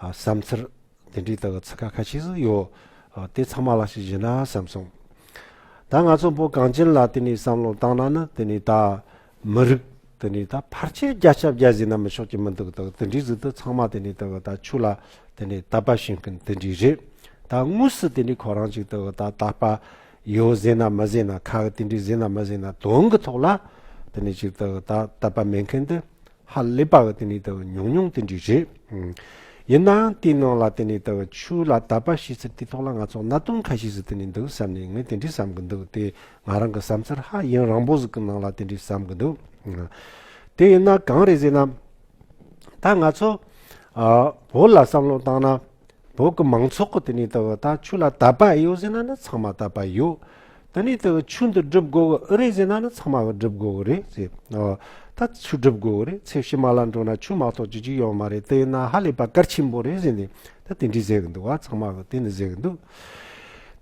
བསམ་ཚར། དེ་འདྲའི་དག་ཚིག་ཁ་ཁ་ཤིས་སུ་ཡོད། དེ་ཚང་མ་ལ་ཞིག་བཞེས་ན་བསམ་སོང། ད་ང་ཚོ་བོད་གངས་ཅན་ལ་དེ་ནས་བསམ་བློ་བཏང་ན་ནི་དེ་ནས་ད། མི་རིགས། དེ་ནས་ད་ཕར་ཆེར་རྒྱ་ཆབ་རྒྱ་བཟས་ན་མི་ཆོག་གི་མི་འདུག་དག་དེ་འདྲའི་ཟིག་དུ་ཚང་མ་དེ་ནས་དག་ད་ཆུ་ལ་དེ་ནས་ད་པ་ཤིང་ཀུན་དེ་འདྲའི་རེད། ད་དངོས་སུ་དེ་ནས་ཁོ་རང་ཅིག་དག་ད་ད་པ། ཡོད་བཟས་ན་མི་བཟས་ན་ཁག་དེ་འདྲའི་བཟས་ན་མི་བཟས་ན་དོན་གི་ཐོག་ལ། དེ་ནས་ཅིག་དག་ད་ད་པ་མེད་མཁན་དེ། ཧ་ལས་པ་དེ་ནི་ཉུང་ཉུང་དེ་འདྲས་རེད། ཡིན་ནའང་དེའི་ནང་ལ་དེ་ནི་ཆུ་ལ་དད་པ་ཤེས་ཚུལ་དེ་ཐོག་ལ་ང་ཚོ་གནའ་དོན་ཁ་ཤས་སུ་དེ་ནི་འདུག་བསམ་ནས་ངས་དེ་འདྲས་བསམ་གི་འདུག་དེ་ང་རང་གི་བསམ་ཚུལ་ཧ་ཡིན་རང་བོ་ཟིག་གི་ནང་ལ་དེ་འདྲས་བསམ་གི་འདུག་དེ་ཡིན་ན་གང་རེད་ཟེར་ན། ད་ང་ཚོ་བོད་ལ་བསམ་བློ་བཏང་ན། བོད་ཀྱི་མང་ཚོགས་ཀྱི་དེ་ནས་དག་ད་ཆུ་ལ་དད་པ་ཨེ་ཡོད་ཟེར་ན་ནི་ཚང་མ་དད་པ་ཡོད། དེ་ནས་དག་ཆུ་འདི་སྒྲུབ་དགོས་ཀྱི་ཨི་རེད་ཟེར་ན་ནི་ཚང་མ་སྒྲུབ་དགོས་ཀྱི་རེད་ཟེར། ད་ཆུ་སྒྲུབ་དགོས་ཀྱི་རེད་ཚེ་ཕྱི་མ་ལ་འགྲོ་ན་ཆུ་མ་གཏོགས་ཅི་ཅིག་ཡོད་མ་རེད་དེ་ན་ཧ་ལས་པ་གལ་ཆེན་པོ་རེད་ཟེར་ནས་ད་དེ་འདྲས་ཟེར་གྱི་འདུག་བ་ཚང་མ་གྱི་དེ་ནས་ཟེར་གྱི་འདུག་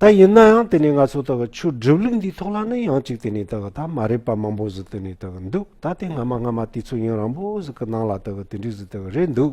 ད་ཡིན་ན་ཡང་དེ་ནས་ང་ཚོ་དག་གི་ཆུ་སྒྲུབ་ལུགས་འདིའི་ཐོག་ལ་ནི་ཡང་ཅིག་དེ་ནས་དག་ད་མ་རེད་པ་མང་པོ་ཟིག་དེ་ནས་དག་གི་འདུག་ད་དེ་སྔ་མ་སྔ་མ་དེ་ཚོ་ཡུན་རང་པོ་ཟིག་གི་ནང་ལ་དག་གི་དེ་འདྲས་ཟིག་དག་རེད་འདུག།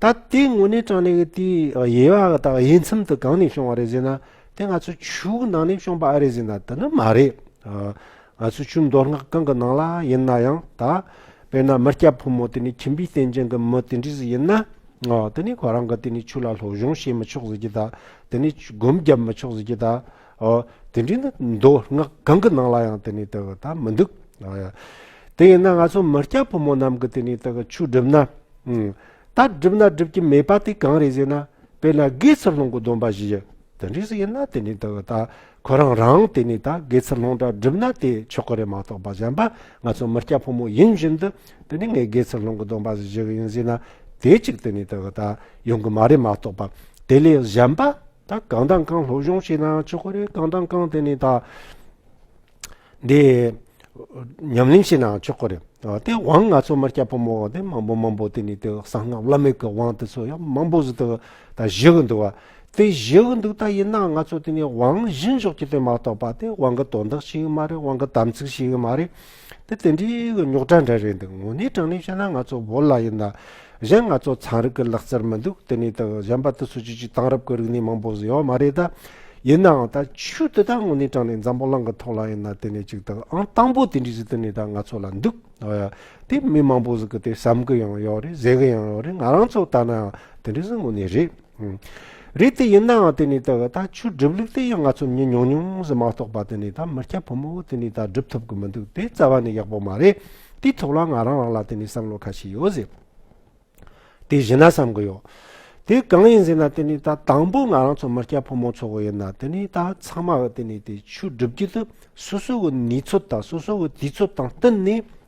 ད་དེའི་དངོས་གནས་དྲང་གནས་ཀྱི་དེའི་དབྱེ་བ་དག་དབྱེ་མཚམས་དུ་གང་ནས་བྱུང་བ་རེད་ཟེར་ན་དེ་ང་ཚོའི་ཆུའུ་ནང་ནས་བྱུང་པ་ཨ་རེད་ཟེར་ན་དེ་ནི་མ་རེད། ང་ཚོའི་ཆུ་མདོ་སྔགས་གང་གི་ནང་ལ་ཡིན་ན་ཡང་ད་དཔེར་ན་མི་སྐྱ་ཕོ་མོ་དེ་ནི་ཁྱིམ་པའི་རྟེན་ཅན་གྱི་མི་དེ་འདྲས་སུ་ཡིན་ན་དེ་ནི་ཁོ་རང་གི་དེ་ནི་ཆུ་ལ་སློབ་སྦྱོང་བྱེད་མི་ཆོག་ཟེར་གྱི་ད་དེ་ནི་སྒོམ་བརྒྱབ་མི་ཆོག་ཟེར་གྱི་ད་དེ་འདྲའི་ནི་མདོ་སྔགས་གང་གི་ནང་ལ་ཡང་དེ་ནི་དག་ད་མི་འདུག། དེ་ཡིན་ན་ང་ཚོ་མི་སྐྱ་ཕོ་མོ་རྣམས་ཀྱི་དེ་ནི་དག་ཆོས་སྒྲུབ་ན། ད་སྒྲུབ་ན་སྒྲུབ་ཀྱི་མེད་པ་དེ་གང་རེད་ཟེར་ན་དཔེར་ན་དགེ་ཚུལ་སློང་གི་སྡོམ་པ་བཞི། དེ་འདྲས་ཡིན་ན་དེ་ནི་དག་ད་ཁོ་རང་རང་དེ་ནི་ད་དགེ་ཚུལ་སློང་འདྲ་སྒྲུབ་ན་དེ་ཆོག་གི་རེད་མ་གཏོགས་པ་གཞན་པ་ང་ཚོ་མི་སྐྱ་ཕོ་མོ་ཡིན་བཞིན་དུ་དེ་ནི་ངས་དགེ་ཚུལ་སློང་གི་སྡོམ་པ་བཞི་ཡིན་ཟེར་ན་དེ་གཅིག་དེ་ནི་དག་ད་ཡོང་གི་མ་རེད་མ་གཏོགས་པ་དེ་ལས་གཞན་པ་ད་གང་དང་གང་སློབ་སྦྱོང་བྱས་ནའང་ཆོག་གོ་རེད་གང་དང་གང་དེ་ནས་ད། འདི། ཉམས་ལེན་བྱས་ནའང་ཆོག་གོ་རེད། དེ་དབང་ང་ཚོ་མ་སྐྱ་ཕོ་མོ་དེ་མང་པོ་མང་པོ་དེ་ནས་དེ་གསང་སྔགས་བླ་མེད་ཀྱི་དབང་དེ་ཚོ་ཡང་མང་པོ་ཟིག་ད་བཞེས་གི་འདུག་བ། དེ་བཞེས་གི་འདུག་ད་ཡིན་ནའང་ང་ཚོ་དེ་ནས་དབང་བཞེས་འཇོག་རྒྱུ་དེ་མ་གཏོགས་པ་དེ་དབང་གི་དོན་དག་བྱེད་ཀྱི་མ་རེད་དབང་གི་དམ་ཚིག་བྱེད་ཀྱི་མ་རེད། དེ་དེ་འདྲའི་རྙོག་དྲ་འདྲ་རེད་འདུག་དངོས་གནས་དྲང་གནས་བཤད་ན་ང་ཚོ་བོད་ལ་ཡིན་ན། གཞན་ང་ཚོ་ཚན་རིག་གི་ལག་རྩལ་མི་འདུག་དེ་ནས་དང་གཞན་པ་དུ་སུ་ཅི་ཅིག་དེང་རབས་ཀྱི་རིག་གནས་མང་པོ་ཟེར་ཡོད་མ་རེད་དཱ། ཡིན་ནའང་ད་ཆུ་དེ་དག་དངོས་གནས་དྲང་གནས་འཛམ་བུ་གླང་གི་ཐོག་ལ་ཡིན་ན་དེ་ནས་ཅིག་དང་ཨང་དང་པོ་དེ་འདྲའི་གཟི་བརྟེན་ནས་དང་ང་ཚོ་ལ་འདུག་དེ་མི་མང་པོ་ཟིག་གི་དེ་བསམ་གི་ཡང་ཡོད་རེད་ཟེར་གི་ཡང་ཡོད་རེད་ང་རང་ཚོ་ལྟ་ནའང་དེ་འདྲའི་ཟིག་དངོས་གནས་རེད། རེད་དེ་ཡིན་ནའང་དེ་ནས་ད་ད་ཆུ་སྒྲིབ་ལུགས་དེ་ཡང་ང་ཚོ་མྱི་མྱོང་མྱོང་ཟི་མ་གཏོགས་པ་དེ་ནས་ད་མི་སྐྱ་ཕོ་མོ་དེ་ནས་ད་སྒྲུབ་ཐུབ་གི་མི་འདུག་དེ་རྩ་བ་ནས་ཡག་པོ་མ་རེད་དེའི་ཐོག་ལ་ང་རང་རང་ལ་དེ་ནས་བསམ་བློ་ཁ་ཤས་ཡོད་ཟེར་དེ་གཞི་ན་བསམ་གི་ཡོད་དེ་གང་ཡིན་ཟེར་ན་དེ་ནས་ད་དང་པོ་ང་རང་ཚོ་མི་སྐྱ་ཕོ་མོ་ཚོ་གི་ཡིན་ན་དེ་ནས་ད་ཚང་མ་གི་དེ་ནས་དེ་ཆུ་སྒྲིབ་རྒྱུ་དེ་སོ་སོ་གི་ནུས་ཚོད་དང་སོ་སོ་གི་དུས་ཚོད་དང་བསྟུན་ནས་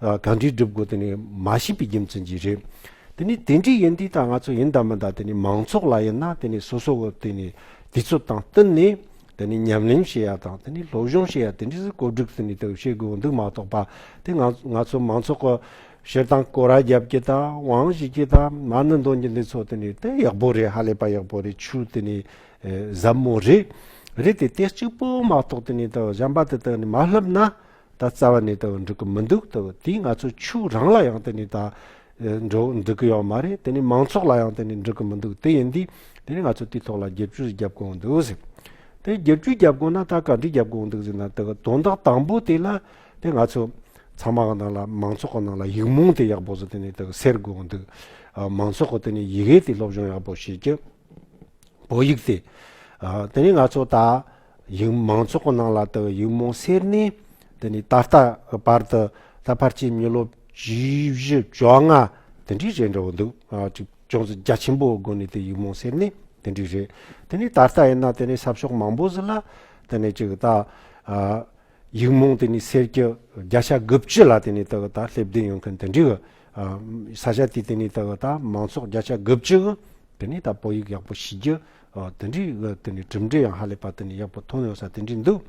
གང་འདྲའི་སྒྲུབ་དགོས་དེ་ནི་མ་ཤེས་པའི་རྒྱུ་མཚན་གྱིས་རེད། དེ་ནི་དེ་འདྲའི་ཡིན་དུས་ད་ང་ཚོ་ཡིན་དང་མིན་དང་དེ་ནི་མང་ཚོགས་ལ་ཡིན་ན་དེ་ནི་སོ་སོ་དེ་ནི་དུས་ཚོད་དང་བསྟུན་ནས་དེ་ནི་ཉམས་ལེན་བྱེད་ཡ་དང་དེ་ནི་སློབ་སྦྱོང་བྱེད་ཡ་དེ་འདྲའི་བཀོད་སྒྲིག་དེ་ནི་དེ་བྱེད་དགོས་འདུག་མ་གཏོགས་པ་དེ་ང་ང་ཚོ་མང་ཚོགས་ཀྱི་ཞེ་སྡང་སྐོར་ར་རྒྱབ་ཀྱི་དང་དབང་བཞི་ཀྱི་དང་མ་ནི་འདོན་རྒྱུ་འདི་ཚོ་དེ་ནི་དེ་ཡག་པོ་རེད་ཧ་ལས་པ་ཡག་པོ་རེད་ཆུ་དེ་ནི་ཟབ་མོ་རེད་རེད་དེ་དེ་གཅིག་པོ་མ་གཏོགས་དེ་ནི་དེ་གཞན་པ་དེ་དག་ནི་མ་བསླབ་ན་ད་རྩ་བ་ནས་དུ་འགྲིག་གི་མི་འདུག་དུ་དེས་ང་ཚོ་ཕྱུག་རང་ལ་ཡང་དེ་ནས་ད་འགྲོ་འགྲིག་གི་ཡོད་མ་རེད་དེ་ནས་མང་ཚོགས་ལ་ཡང་དེ་ནས་འགྲིག་གི་མི་འདུག་དེ་ཡིན་དུས་དེ་ནས་ང་ཚོ་དེའི་ཐོག་ལ་རྒྱབ་སྐྱོར་ཞིག་བརྒྱབ་དགོས་འདུག་ཟེར། དེ་རྒྱབ་སྐྱོར་བརྒྱབ་དགོས་ན་ད་ག་འདྲི་བརྒྱབ་དགོས་འདུག་ཟེར་ན་དུ་དོན་དག་དང་པོ་དེ་ལ་དེ་ང་ཚོ་ཚང་མ་གི་ནང་ལ་མང་ཚོགས་གི་ནང་ལ་ཡིག་རྨོངས་དེ་ཡག་པོ་ཟོ་དེ་ནས་དུ་སེལ་དགོས་འདུག་མང་ཚོགས་གི་དེ་ནས་ཡི་གེ་དེ་སློབ་སྦྱོང་ཡག་པོ་བྱེད་རྒྱུ་བོད་ཡིག་དེ་དེ་ནས་ང་ཚོ་ད། ཡིག་མང་ཚོགས་ཀྱི་ནང་ལ་དག་ཡིག་རྨོངས་སེལ་ནས་འདི་ནས་ད་ལྟ་གི་བར་དུ་ད་བར་ཆད་མྱུལ་ལོ་བཞི་བཞི་བཅོ་ལྔ་དེ་འདྲའི་རེད་འདྲ་བོ་འདུག་ཅིག་ཅུང་ཟད་རྒྱ་ཆེན་པོའི་སྒོ་ནས་དེ་ཡིག་རྨོངས་སེལ་ནས་དེ་འདྲའི་རེད་དེ་ནས་ད་ལྟ་ཡིན་ན་དེ་ནས་ས་ཕྱོགས་མང་པོ་ཟི་ལ་དེ་ནས་ཅིག་ད་ཡིག་རྨོངས་དེ་ནས་སེལ་གྱི་བརྒྱ་ཆ་དགུ་བཅུ་ལ་དེ་ནས་དག་ད་སླེབས་བསྡད་ཡོད་མཁན་དེ་འདྲའི་གི་ས་ཆ་དེ་དེ་ནས་དག་ད་མང་ཚོགས་བརྒྱ་ཆ་དགུ་བཅུ་གི་དེ་ནས་ད་དཔང་ཡིག་ཡག་པོ་ཞིག་རྒྱུ། དེ་འདྲའི་དེ་ནས་གྲུབ་འབྲས་ཡང་ཧ་ལས་པ་དེ་ནས་ཡག་པོ་ཐོན་ཡོང་ས་དེ་འདྲའི་འདུག།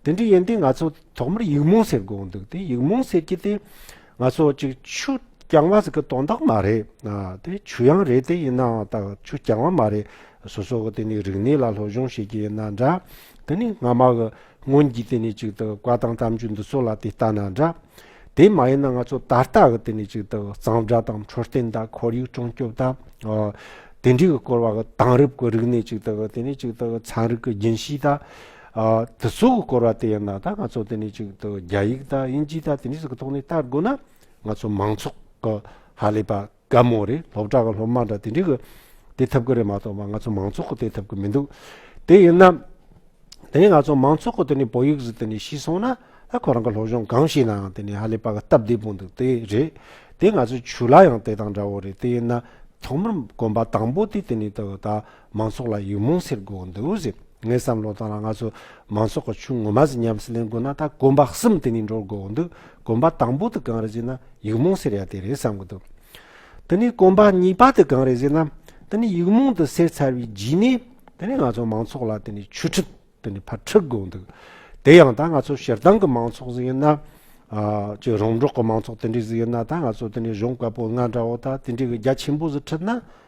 དེ་འདྲའི་ཡིན་དུས་ང་ཚོ་ཐོག་མར་ཡིག་རྨོངས་ཟེར་དགོས་འདུག་དེ་ཡིག་རྨོངས་ཟེར་གྱི་དེ། ང་ཚོ་གཅིག་ཆུ་རྐྱང་བ་ཟེར་གི་དོན་དག་མ་རེད། དེ་ཆུ་ཡང་རེད་དེ་ཡིན་ནའང་ད་ཆུ་རྐྱང་བ་མ་རེད། སོ་སོ་གི་དེ་ནས་རིག་གནས་ལ་སློབ་སྦྱོང་བྱེད་ཀྱི་ཡིན་ན་འདྲ། དེ་ནས་སྔ་མ་གི། སྔོན་གྱི་དེ་ནས་ཅིག་དང་བཀའ་དང་གཏམ་རྒྱུད་འདི་ཚོ་ལ་དེ་ལྟ་ན་འདྲ། དེ་མ་ཡིན་ན་ང་ཚོ་ད་ལྟ་གི་དེ་ནས་ཅིག་དང་གཙང་སྦྲ་དང་འཕྲོད་བསྟེན་དང་ཁོར་ཡུག་སྲུང་སྐྱོབ་དང། དེ་འདྲའི་སྐོར་བ་གི་དེང་རབས་ཀྱི་རིག་གནས་ཅིག་དང་དེ་ནས་ཅིག་དང་ཚན་རིག་གི་རྒྱུན་ཤེས་དང། དེ་ཚོ་གི་སྐོར་བ་དེ་ཡིན་ན་ད་ང་ཚོ་དེ་ནས་ཅིག་དང་རྒྱ་ཡིག་དང་དབྱིན་ཇི་དང་དེ་འདྲའི་གི་ཐོག་ནས་བལྟ་དགོས་ན་ང་ཚོ་མང་ཚོགས་གི་ཧ་ལས་པ་དགའ་མོ་རེད་སློབ་གྲྭ་གི་སློབ་མ་འདྲ་དེ་འདྲའི་གི་བསྡད་ཐུབ་གི་རེད་མ་གཏོགས་པ་ང་ཚོ་མང་ཚོགས་གི་བསྡད་ཐུབ་གི་མི་འདུག་དེ་ཡིན་ན། དེ་ནས་ང་ཚོ་མང་ཚོགས་གི་དེ་ནས་བོད་ཡིག་ཟིག་དེ་ནས་ཤེས་སོང་ན་ད་ཁོ་རང་གི་སློབ་སྦྱོང་གང་བྱས་ནའང་དེ་ནས་ཧ་ལས་པ་གི་སྟབས་བདེ་པོ་འདུག་དེ་རེད་དེ་ང་ཚོའི་ཆུ་ལ་ཡང་དེ་དང་འདྲ་བོ་རེད་དེ་ཡིན་ན་ཐོག་མར་གོམ་པ་དང་པོ་དེ་དེ་ནས་ད་མང་ཚོགས་ལ་ཡིག་རྨོངས་སེལ་དགོས་འདུག་ཟེར། ངའི་བསམ་བློ་དང་ལ་ང་ཚོ་མང་ཚོགས་ཀྱི་ཆུང་ངུ་མ་ཟིག་ཉམས་སུ་ལེན་དགོས་ན་ད་གོམ་པ་གསུམ་དེ་ནས་འགྲོ་དགོས་འདུག་གོམ་པ་དང་པོ་དེ་གང་རེད་ཟེར་ན་ཡིག་རྨོངས་སེལ་ཡ་དེ་རེད་བསམ་གྱི་འདུག་དེ་ནས་གོམ་པ་གཉིས་པ་དེ་གང་རེད་ཟེར་ན་དེ་ནས་ཡིག་རྨོངས་དེ་སེལ་ཚར་བའི་རྗེས་ནས་དེ་ནས་ང་ཚོ་མང་ཚོགས་ལ་དེ་ནས་ཆོས་ཁྲིད་དེ་ནས་ཕར་ཁྲིད་དགོས་འདུག་དེ་ཡང་ད་ང་ཚོ་ཞེ་སྡང་གི་མང་ཚོགས་ཟིག་ཡིན་ན། ཅི་རོང་འབྲོག་གི་མང་ཚོགས་དེ་འདྲས་ཟིག་ཡིན་ན་ད་ང་ཚོ་དེ་ནས་གཞོན་བཀའ་པོད་ལྔ་འདྲ་བོ་ད་དེ་འདྲས་གི་རྒྱ་ཆེན་པོ་ཟིག་ཁྲིད་ན་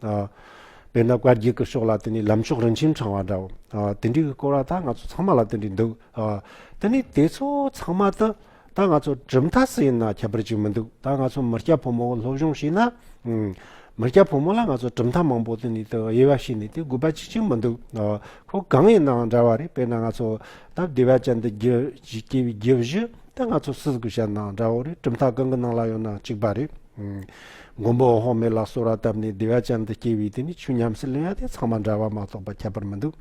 དཔེར་ན་བཀའ་བརྒྱུད་ཀྱི་ཕྱོགས་ལ་དེ་ནས་ལམ་ཕྱོགས་རིན་ཆེན་འཆང་བ་འདྲ་བོ། དེ་འདྲའི་གི་སྐོར་བ་ད་ང་ཚོ་ཚང་མ་ལ་དེ་འདྲའི་འདུག། དེ་ནས་དེ་ཚོ་ཚང་མ་དུ་ད་ང་ཚོ་གྲུབ་མཐའ་སུ་ཡིན་ན་ཁྱད་པར་ཅིག་མི་འདུག་ད་ང་ཚོ་མི་སྐྱ་ཕོ་མོ་བོ་སློབ་སྦྱོང་བྱས་ན། མི་སྐྱ་ཕོ་མོ་ལ་ང་ཚོ་གྲུབ་མཐའ་མང་པོ་དེ་ནས་དུ་དབྱེ་བ་བྱས་ནས་དེ་དགོས་པ་ཅི་ཅིག་མི་འདུག་ཁོ་གང་ཡིན་ནའང་འདྲ་བ་རེད་དཔེར་ན་ང་ཚོ་ད་བདེ་བ་ཅན་དུ་སྐྱེ་བའི་རྒྱུ་བཞི་ད་ང་ཚོ་སུ་དགོས་བྱས་ནའང་འདྲ་བོ་རེད་གྲུབ་མཐའ་གང་གི་ནང་ལ་ཡོང་ནའང་གཅིག་པ་རེད། མགོན་པོ་འོག་མིན་ལ་གསོལ་བ་བཏབ་ནས་བདེ་བ་ཅན་དུ་སྐྱེ་བའི་དུས་ནི་ཆུ་ཉམས་སུ་ལེན་ཡ་དེ་ཚང་མ་འདྲ་བ་མ་གཏོགས་པ་ཁྱད་པར་མི་འདུག།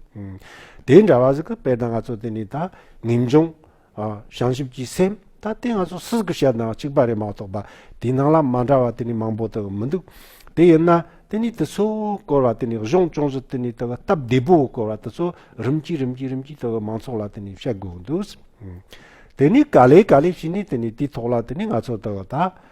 དེའི་འདྲ་བ་ཟིག་གི་དཔེ་ད་ང་ཚོ་དེ་ནས་ད་ངེས་འབྱུང། བྱང་ཆུབ་ཀྱི་སེམས། ད་དེ་ང་ཚོ་སུ་ཟིག་གི་བཤད་དང་གཅིག་པ་རེད་མ་གཏོགས་པ་དེའི་ནང་ལ་མ་འདྲ་བ་དེ་ནི་མང་པོ་དག་མི་འདུག། དེ་ཡིན་ན་དེ་ནས་དེ་ཚོའི་བསྐོར་བ་དེ་ནས་གཞུང་ཅུང་ཟད་དེ་ནས་དག་སྟབས་བདེ་པོའི་བསྐོར་བ་དེ་ཚོ་རིམ་གྱིས་རིམ་གྱིས་རིམ་གྱིས་དག་མང་ཚོགས་ལ་དེ་ནས་བཤད་དགོས་འདུག། དེ་ནས་ག་ལེ་ག་ལེ་བྱས་ནས་དེ་ནས་དེའི་ཐོག་ལ་དེ་ནས་ང་ཚོ་དག་ད།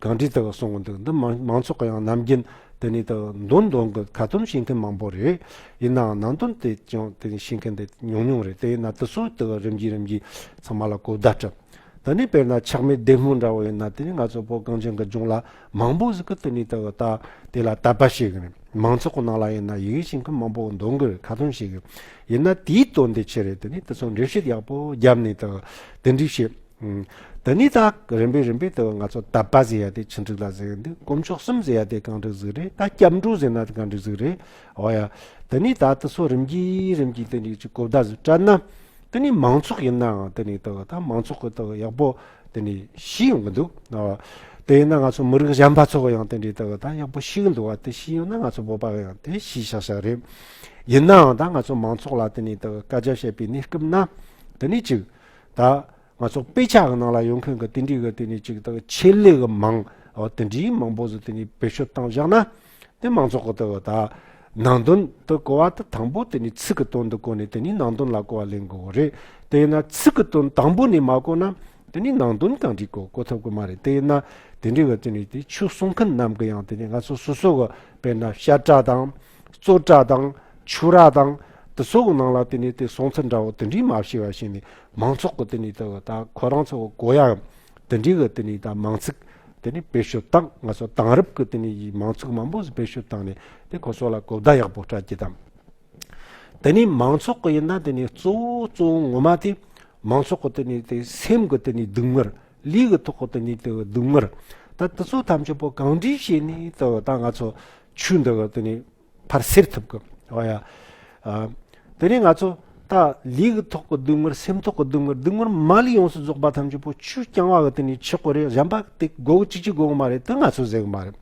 གང་དྲིས་དག་གསུང་གི་འདུག་འདི་མང་ཚོགས་ཀྱི་ཡང་ནམ་རྒྱུན་དེ་ནས་དག་འདུན་འདོན་གི་ཁ་ཏོན་བྱེད་མཁན་མང་པོ་རེད། ཡིན་ནའང་ནང་དོན་དེ་ཅང་དེ་ནས་བྱེད་མཁན་དེ་ཉུང་ཉུང་རེད་དེ་ཡིན་ན་དེ་སུས་དག་རིམ་གྱིས་རིམ་གྱིས་ཚང་མ་ལ་གོ་བརྡ་སྤྲད། དེ་ནས་དཔེར་ན་ཆགས་མེད་བདེ་སྨོན་འདྲ་བོ་ཡིན་ན་དེ་ནས་ང་ཚོ་བོད་གངས་ཅན་གྱི་ལྗོངས་ལ་མང་པོ་ཟིག་གི་དེ་ནས་དག་ལྟ་དེ་ལ་དད་པ་བྱེད་གི་རེད་མང་ཚོགས་ཀྱི་ནང་ལ་ཡིན་ན་ཡི་གེ་བྱེད་མཁན་མང་པོ་འདུག་གི་རེད་ཁ་ཏོན་བྱེད་གི་ཡིན་ན་དེའི་དོན་དེ་ཆེ་རེད་དེ་ནས་དེ་ཚོ་འགྲེལ་བཤད་ཡག་པོ་རྒྱབ་ནས་དག་དེ་འདྲས་བྱེད། འདི་ནི་ད་རིམ་པས་རིམ་པས་དུ་ང་ཚོ་དད་པ་ཟེར་ཡ་དེ་ཆིག་འགྲིག་ལ་གཟིགས་འདུག་དཀོན་མཆོག་གསུམ་ཟེར་ཡ་དེ་གང་འགྲིག་གཟིགས་རེད་ད་སྐྱབས་འགྲོ་ཟེར་ན་གང་འགྲིག་གཟིགས་རེད་འོ་ཡ། དེ་ནི་ད་དུ་སོ་རིམ་གྱིས་རིམ་གྱིས་དེ་ནི་ཅིག་གོ་བརྡ་ཟིག་སྤྲད་ན། དེ་ནི་མང་ཚོགས་ཡིན་ནའང་དེ་ནི་ད་མང་ཚོགས་ཀྱི་ད་ཡག་པོ་དེ་ནི་ཤེས་ཡོང་གི་འདུག་ད། དེ་ཡིན་ན་ང་ཚོ་མི་རིགས་གཞན་པ་ཚོ་ཡང་དེ་འདྲའི་ད་ད་ཡག་པོ་ཤེས་གི་འདུག་བ་དེ་ཤེས་ཡོང་ན་ང་ཚོ་བོད་པ་ཡང་དེ་ཤེས་ཤག་ཤག་རེད། ཡིན་ནའང་ད་ང་ཚོ་མང་ཚོགས་ལ་དེ་ནི་ད་བཀའ་རྒྱ་བཤད་པའི་གནས་སྐབས་ན་དེ་ནི་ཅིག། ད། ང་ཚོ་དཔེ་ཆ་གི་ནང་ལ་ཡོང་མཁན་གྱི་དེ་འདྲའི་གི་དེ་ནས་ཅིག་དག་ཆེད་ལས་གི་མང་བོ་དེ་འདྲའི་མང་བོ་ཟིག་དེ་ནས་བེད་སྤྱོད་བཏང་བཞག་ན། དེ་མང་ཚོགས་གི་དེ་གི་ད། ནང་དོན་དུ་གོ་བ་དེ་དང་པོ་དེ་ནས་ཚིག་གི་དོན་དུ་གོ་ནས་དེ་ནས་ནང་དོན་ལ་གོ་བ་ལེན་དགོས་གི་རེད། དེས་ན་ཚིག་གི་དོན་དང་པོ་ནས་མ་གོ་ན། དེ་ནས་ནང་དོན་གང་དྲིས་གོ་གོ་ཐུབ་གི་མ་རེད་དེས་ན། དེ་འདྲའི་གི་དེ་ནས་དེ་ཆོས་གསུང་མཁན་རྣམས་གི་ཡང་དེ་ནས་ང་ཚོ་སོ་སོ་གི་དཔེར་ན་ཤ་བཀྲ་དང། བཙོ་བཀྲ་དང། ཆུ་རགས་དང། དུ་སོགས་ནང་ལ་དེ་ནས་དེ་སོང་ཚུལ་འདྲ་བོ་དེ་འདྲའི་མ་ཕྱི་བ་ཞིག་ནས་མང་ཚོགས་ཀྱི་དེ་ནས་དེ་བ་ད་ཁོ་རང་ཚོ་གོ་ཡ་འམ། དེ་འདྲའི་གི་དེ་ནས་ད་མང་ཚིག་དེ་ནས་བེད་སྤྱོད་བཏང་ང་ཚོ་དང་རབས་ཀྱི་དེ་ནས་ཡི་མང་ཚུགས་མང་པོ་བེད་སྤྱོད་བཏང་ནས་དེ་ཁོ་སོགས་ལ་གོ་བརྡ་ཡག་པོ་སྤྲད་ཀྱི་དང། དེ་ནས་མང་ཚོགས་ཀྱི་ཡིན་ན་དེ་ནས་གཙོ་བོ་གཙོ་བོ་ངོ་མ་དེ་མང་ཚོགས་ཀྱི་དེ་ནས་དེ་སེམས་ཀྱི་དེ་ནས་སྡུག་བསྔལ་ལུས་ཀྱི་ཐོག་གི་དེ་ནས་དེ་བ་སྡུག་བསྔལ་ད་དུ་ཚོ་ཐམས་ཅད་པོ་གང་འདྲའི་བྱས་ནས་དེ་བ་ད་ང་ཚོ་ཆུ་འདི་གི་དེ་ནས་ཕར་སེར་ཐུབ་གི་ཨོ་ཡ། དེ་ནས་ང་ཚོ་ད་ལུས་ཀྱི་ཐོག་གི་སྡུག་བསྔལ་སེམས་ཐོག་གི་སྡུག་བསྔལ་སྡུག་བསྔལ་མ་ལུས་ཡོངས་སུ་རྫོགས་པ་ཐམས་ཅད་པོ་ཆུས་བསྐྱང་བ་གི་དེ་ནས་ཆུ་གོ་རེ་གཞན་པ་དེ་སྒོ་གཅིག་གཅིག་སྒོ་མ་རེད་དེ་ང་ཚོ་ཟེགས་མ་རེད།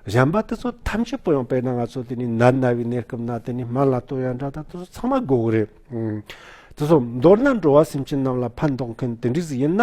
གཞན་པ་དེ་ཚོ་ཐམས་ཅད་པོ་ཡང་དཔེར་ན་ང་ཚོ་དེ་ནས་ནད་ན་བའི་གནས་སྐབས་ན་དེ་ནས་སྨན་ལ་ལྟོས་ཡང་འདྲ་ད་དེ་ཚོ་ཚང་མ་སྒོ་རེད། དེ་ཚོ་མདོར་ན་འགྲོ་བ་སེམས་ཅན་རྣམས་ལ་ཕན་འདོགས་མཁན་དེ་འདྲས་ཡིན་ན།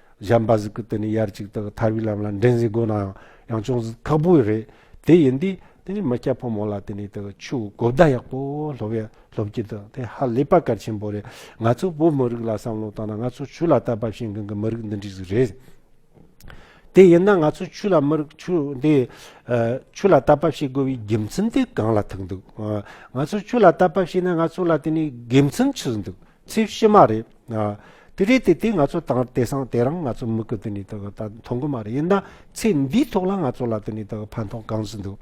གཞན་པ་ཟིག་གི་དེ་ནི་ཡར་གཅིག་དག་ཐར་བའི་ལམ་ལ་འདྲེན་ཟིག་དགོས་ནའང་ཡང་ཅུང་ཟད་ཁག་པོ་རེད་དེ་ཡིན་དུས་དེ་ནི་མི་སྐྱ་ཕོ་མོ་ལ་དེ་ནི་དག་ཆུ་གོ་བརྡ་ཡག་པོ་སློབ་བའི་སློབ་ཀྱི་དག་དེ་ཧ་ལས་པ་གལ་ཆེན་པོ་རེད་ང་ཚོ་བོད་མི་རིགས་ལ་བསམ་བློ་བཏང་ན་ང་ཚོ་ཆུ་ལ་བལྟ་བབས་ཤིང་གང་གི་མི་རིགས་འདི་འདྲི་ཟིག་རེད་དེ་ཡིན་ན་ང་ཚོ་ཆུ་ལ་མི་རིགས་ཆུ་འདི་ཆུ་ལ་བལྟ་བབས་བྱེད་དགོས་པའི་དགེ་མཚན་དེ་གང་ལ་ཐུག་འདུག་ང་ཚོ་ཆུ་ལ་བལྟ་བབས་བྱས་ན་ང་ཚོ་ལ་དེ་ནི་དགེ་མཚན་ཆི་ཟིག་འདུག་ཚེས་བཞི་མ་རེད། དེ་རེད་དེ་དེ་ང་ཚོ་དང་དེ་སང་དེ་རང་ང་ཚོ་མི་གི་དེ་ནི་ད་མཐོང་གི་མ་རེད་ཡིན་ན་ཚེས་འདིའི་ཐོག་ལ་ང་ཚོ་ལ་དེ་ནི་ད་ཕན་ཐོག་གང་ཟིན་འདུག་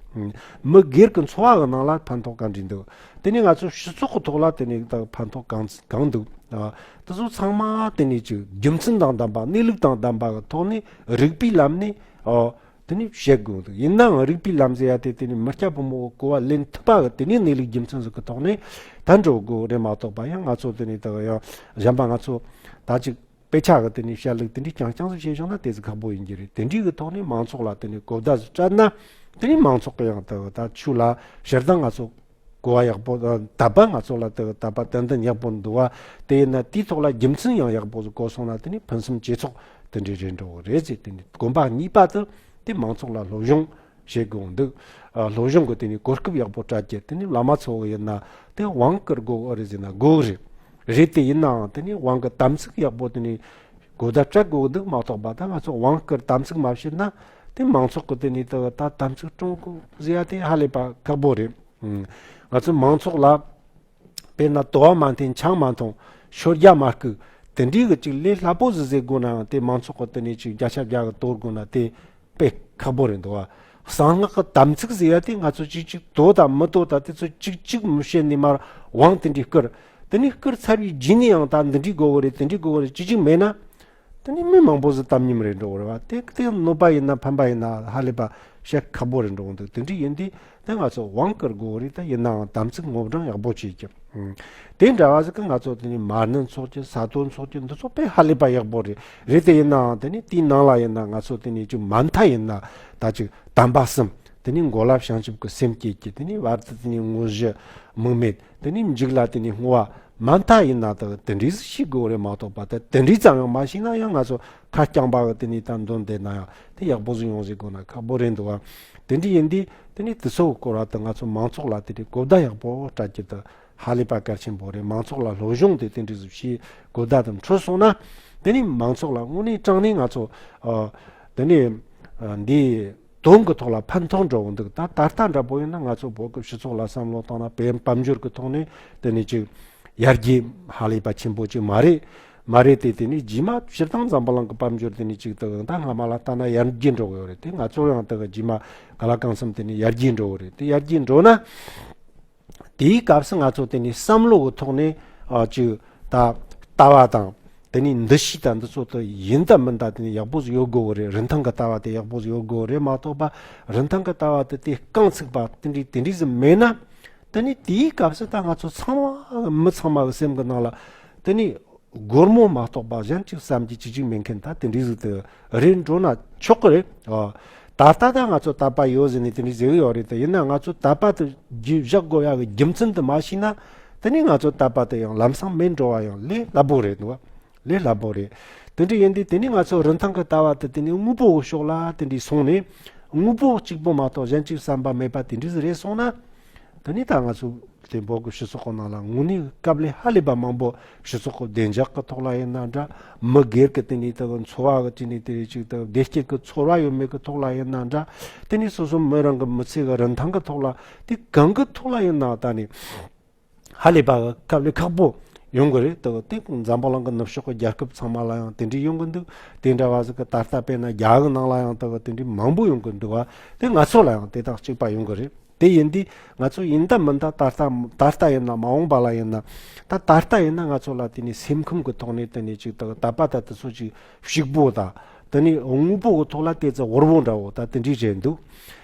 མི་སྒེར་གི་འཚོ་བ་གི་ནང་ལ་ཕན་ཐོག་ག་འདྲི་འདུག་དེ་ནི་ང་ཚོ་སྤྱི་ཚོགས་གི་ཐོག་ལ་དེ་ནི་ད་ཕན་ཐོག་གང་ཟིན་གང་འདུག་དེ་ཚོ་ཚང་མ་དེ་ནི་ཅིག་རྒྱུ་མཚན་དང་ལྡན་པ་གནས་ལུགས་དང་ལྡན་པ་གི་ཐོག་ནས་རིགས་པའི་ལམ་ནས་དེ་ནི་བཤད་དགོས་འདུག་ཡིན་ནའང་རིགས་པའི་ལམ་ཟེར་ཡ་དེ་དེ་ནས་མི་སྐྱ་ཕོ་མོ་འོ་སྐོལ་བ་ལེན་ཐུབ་པ་གི་དེ་ནས་གནས་ལུགས་རྒྱུ་མཚན་སོགས་ཀི་ཐོག་ནས་ད་འགྲོ་དགོས་རེད་མ་གཏོགས་པ་ཡང་ང་ཚོ་དེ་ནས་ད་གི་ཡང་གཞན་པ་ང་ཚོ་ད་ཅིག་དཔེ་ཆ་གི་དེ་ནས་བཤད་ལུགས་དེ་འདྲས་རྐྱང་རྐྱང་སོགས་བཤད་བྱུང་ན་དེ་ཚོ་ཁག་པོ་ཡིན་གྱི་རེད་དེ་འདྲས་གི་ཐོག་ནས་མང་ཚོགས་ལ་དེ་ནས་གོ་བརྡ་སོགས་སྤྲད་ན་དེ་ནས་མང་ཚོགས་གི་ཡང་ད་གི་ད་ཆུ་ལ་ཞེར་སྡང་ང་ཚོ་གོ་བ་ཡག་པོ་དང་བདག་པ་ང་ཚོ་ལ་དེ་དག་པ་ཏན་ཏན་ཡག་པོ་འདུག་བ་དེ་ཡིན་ན་དེའི་ཐོག་ལ་རྒྱུ་མཚན་ཡང་ཡག་པོ་གོ་སོང་ན་དེ་ནི་ཕུན་སུམ་ཇེ་ཚོགས་དེ་འདྲའི་རེད་འགྲོ་གི་རེད་ཅེས་དེ་ནི་དགོན་པ་གཉིས་པ་དེ་དེ་མང་ཚོགས་ལ་སློབ་སྦྱོང་བྱེད་དགོས་འདུག་སློབ་སྦྱོང་གི་དེ་ནི་གོ་སྐབས་ཡག་པོ་སྤྲད་རྒྱུ་དེ་ནི་བླ་མ་ཚོ་ཡིན་ན་དེ་དབང་བསྐུར་དགོས་ཨོ་རེད་ཟེར་ན་དགོས་གི་རེད་རེད་དེ་ཡིན་ནའང་དེ་ནི་དབང་གི་དམ་ཚིག་ཡག་པོ་དེ་ནི་གོ་བརྡ་སྤྲད་དགོས་འདུག་མ་གཏོགས་པ་ད་ང་ཚོ་དབང་བསྐུར་དམ་ཚིག་མ་བྱེད་ན་དེ་མང་ཚོགས་ཀྱི་དེ་ནས་ད་ད་ད་ཚུགས་ཀྲུང་གོ་བཟི་ཡ་དེ་ཧ་ལས་པ་ཁག་པོ་རེད། ང་ཚོའི་མང་ཚོགས་ལ་དཔེར་ན་དོ་བ་མ་འཐེན་ཆང་མ་འཐུང་ཤོ་རྒྱག་མ་རྐུ་དེ་འདྲའི་གི་ཅིག་ལས་སླ་པོ་ཟི་ཟེར་དགོས་ནའང་དེ་མང་ཚོགས་ཀྱི་དེ་ནས་ཅིག་བརྒྱ་ཆ་བརྒྱ་གི་གཏོར་དགོས་ན་དེ་དཔེ་ཁག་པོ་རེད་འདུག་བ། གསང་སྔགས་ཀྱི་དམ་ཚིག་བཟི་ཡ་དེ་ང་ཚོ་ཅིག་ཅིག་དོ་དང་མི་དོ་དང་དེ་ཚོ་ཅིག་གཅིག་མི་བྱེད་ནས་མར་བང་དེ་འདྲའི་བསྐུར། དེ་ནས་བསྐུར་ཚར་བའི་རྗེས་ནས་ཡང་ད་འདི་འདྲའི་དགོས་དགོས་རེད་དེ་འདྲའི་དགོས་དགོས་རེད་ཅིག་ཅིག་མེད་ན། དེ་ནི་མི་མང་པོ་ཟི་བཏབ་ཉིན་རེ་འགྲོ་རེ་བ་དེ་དེ་གནོད་པ་ཡིན་ན་ཕན་པ་ཡིན་ན་ཧ་ལས་པ་བཤད་ཁག་པོ་རེ་འགྲོ་འདུག་དེ་འདྲའི་ཡིན་དུས་དེ་ང་ཚོ་དབང་བསྐུར་དགོས་རིགས་དེ་ཡིན་ནའང་དམ་ཚིག་སྔོག་འབྲང་ཡག་པོ་བྱེད་ཀྱི། དེ་འདྲ་བ་ཟི་ཁི་ང་ཚོ་དེ་ནི་མར་ནི་འཚོགས་ཀྱི་ས་དོ་འཚོགས་ཀྱི་འདི་ཚོ་དཔེ་ཧ་ལས་པ་ཡག་པོ་རེད་རེད་དེ་ཡིན་ནའང་དེ་ནི་དེའི་ནང་ལ་ཡིན་ན་ང་ཚོ་དེ་ནི་ཅིག་མ་མཐའ་ཡིན་ན་ད་ཅིག་དམ་པ་གསུམ་དེ་ནི་མགོ་ལབ་བྱང་ཆུབ་ཀྱི་སེམས་བསྐྱེད་ཀྱི་དེ་ནི་བར་དུ་དེ་ནི་དངོས་གཞི་དམིགས་མེད་དེ་ནི་འཇིག་ལ་དེ་ནི་བསྔོ་བ་མ་མཐའ་ཡིན་ན་དང་དེ་འདྲས་སུ་ཤི་དགོས་རེད་མ་གཏོགས་པ་དེ་དེ་འདྲས་ཙམ་ཡང་མ་ཤི་ན་ཡང་ང་ཚོ་ཁ་རྐྱང་པ་གི་དེ་ནས་ད་འདོན་བསྡད་ན་ཡང་དེ་ཡག་པོ་ཟིག་ཡོང་ཟིག་དགོས་ན་ཁག་པོ་རེད་འདུག་དེ་འདྲས་ཡིན་དུས་དེ་ནས་དུས་ཚོད་སྐོར་བ་དང་ང་ཚོ་མང་ཚོགས་ལ་དེ་འདྲས་གོ་བརྡ་ཡག་པོ་སྤྲད་རྒྱུ་དེ་ཧ་ལས་པ་གལ་ཆེན་པོ་རེད་མང་ཚོགས་ལ་སློབ་སྦྱོང་དེ་དེ་འདྲས་སུ་བྱས་གོ་བརྡ་དང་འཕྲོད་སོང་ན་དེ་ནས་མང་ཚོགས་ལ་དངོས་གནས་སྤྲང་ནས་ང་ཚོ་དེ་ནས་འདི་དོན་གྱི་ཐོག་ལ་ཕན་ཐོགས་འགྲོ་འོང་འདུག་ད་ད་ལྟ་འདྲ་པོ་ཡིན་ན་ང་ཚོ་བོད་སྐབས་སྤྱི་ཚོགས་ལ་བསམ་བློ་བཏང་ན་བེད་དཔང་སྦྱོར་གྱི་ཐོག་ནས་དེ་ནི་ཅིག་ཡར་རྒྱས་ཧ་ལས་པ་ཆེན་པོ་ཅིག་མ་རེད་མ་རེད་དེ་དེ་ནི་རྗེས་མ་སྤྱིར་བཏང་འཛམ་བུ་གླང་གི་དཔལ་འབྱོར་དེ་ནི་ཅིག་དུ་ཨང་ད་སྔ་མ་ལ་ལྟ་ན་ཡར་རྒྱས་འགྲོ་གི་ཡོད་རེད་དེ་ང་ཚོ་ཡང་དུ་ག་རྗེས་མ་ག་ལ་གང་བསམ་དེ་ནི་ཡར་རྒྱས་འགྲོ་གི་རེད་དེ་ཡར་རྒྱས་འགྲོ་ན། དེའི་སྐབས་སུ་ང་ཚོ་དེ་ནི་བསམ་བློ་གི་ཐོག་ནས་ཀྱི་ད་ལྟ་བ་དང། དེ་ནི་འདི་ཞིག་དང་འདི་ཚོ་དེ་ཡིན་དང་མིན་དང་དེ་ནི་ཡག་པོ་ཟིག་ཡོད་དགོས་གི་རེད་རིན་ཐང་གི་ལྟ་བ་དེ་ཡག་པོ་ཟིག་ཡོད་དགོས་གི་རེད་མ་གཏོགས་པ་རིན་ཐང་གི་ལྟ་བ་དེ་དེ་རྐང་ཚུགས་པ་དེ་འདྲའི་དེ་འདྲའི་ཟིག་མེད་ན། དེ་ནི་དེའི་སྐབས་སུ་ད་ང་ཚོ་ཚང་མ་མི་ཚང་མ་གི་སེམས་གི་ནང་ལ་དེ་ནི་སྒོར་མོ་མ་གཏོགས་པ་གཞན་གཅིག་བསམ་གྱིས་ཅི་ཅིག་མེད་མཁན་དག་དེ་འདྲའི་གཟུགས་དེ་རེད་འགྲོ་ན་ཆོག་གི་རེད། ད་ལྟ་དང་ང་ཚོ་དད་པ་ཡོད་ཟེར་ནས་དེ་འདྲའི་ཟེར་གི་ཡོད་རེད་དེ་ཡིན་ན་ང་ཚོ་དད་པ་དེ་རྒྱུད་བཞག་དགོས་ཡ་གི་རྒྱུ་མཚན་དེ་མ་ཤེས་ན་དེ་ནས་ང་ཚོ་དད་པ་དེ་ཡང་ལམ་སང་མེད་འགྲོ་བ་ཡང་ལས་སླ་པོ་རེད་འདུག་ལས་སླ་པོ་རེད། དེ་འདྲ་ཡིན་དུས་དེ་ནས་ང་ཚོ་རིན་ཐང་གི་ལྟ་བ་དེ་དེ་ནས་དངོས་པོ་འོག་ཞོག་ལ་དེ་འདྲའི་སོང་ནས་དངོས་པོ་གཅིག་པོ་མ་གཏོགས་གཞན་གཅིག་བསམ་པ་མེད་པ་དེ་འདྲའི་རེད་སོང་ན། ད་ནི་ད་ང་ཚོས་དེ་འབོག་གི་ཞུ་སོགས་གོ་ནང་ལ་ངུ་ནི་སྐབས་ལས་ཧ་ལས་པ་མང་པོ་ཞུ་སོགས་གོ་བདེ་འཇགས་གི་ཐོག་ལ་ཡིན་ན་འདྲ་མི་སྒེར་གི་དེ་ནི་དེ་གི་འཚོ་བ་གི་དེ་ནི་དེ་རེ་གཅིག་དང་བདེ་སྐྱིད་གི་ཚོར་བ་ཡོད་མེད་གི་ཐོག་ལ་ཡིན་ན་འདྲ་དེ་ནི་སོ་སོ་མི་རང་གི་མི་ཚེ་གི་རིན་ཐང་གི་ཐོག་ལ་དེ་གང་གི་ཐོག་ལ་ཡིན་ནའང་ད་ནི་ཧ་ལས་པ་གི་སྐབས་ལས་ཁག་པོ་ཡོང་གི་རེད་དོ་དེ་འཛམ་བུ་གླིང་གི་ནུབ་ཕྱོགས་གི་རྒྱལ་ཁབ་ཚང་མ་ལ་ཡང་དེ་འདྲའི་ཡོང་གི་འདུག་དེ་འདྲ་བ་ཟིག་གི་ད་ལྟ་དཔེར་ན་རྒྱ་གི་ནང་ལ་ཡང་དེ་གི་དེ་འདྲའི་མང་པོ་ཡོང་གི་འདུག་བ་དེ་ང་ཚོ་ལ་ཡང་དེ་དང་གཅིག་པ་ཡོང་གི་རེད། དེ་ཡིན་དུས་ང་ཚོ་ཡིན་ད་མིན་ད་ད་ལྟ་ད་ལྟ་ཡིན་ན་མ་འོངས་པ་ལ་ཡིན་ན། ད་ད་ལྟ་ཡིན་ན་ང་ཚོ་ལ་དེ་ནི་སེམས་ཁམས་ཀྱི་ཐོག་ནས་དེ་ནི་ཅིག་ད་ད་པ་ད་དེ་ཚོ་ཅིག་ཞིག་པོ་ད་དེ་ནི་དངོས་པོ་གི་ཐོག་ལ་དེ་ཚོ་ཧོར་བོ་འདྲ་བོ་ད་དེ་འདྲས་བྱས་འདུག་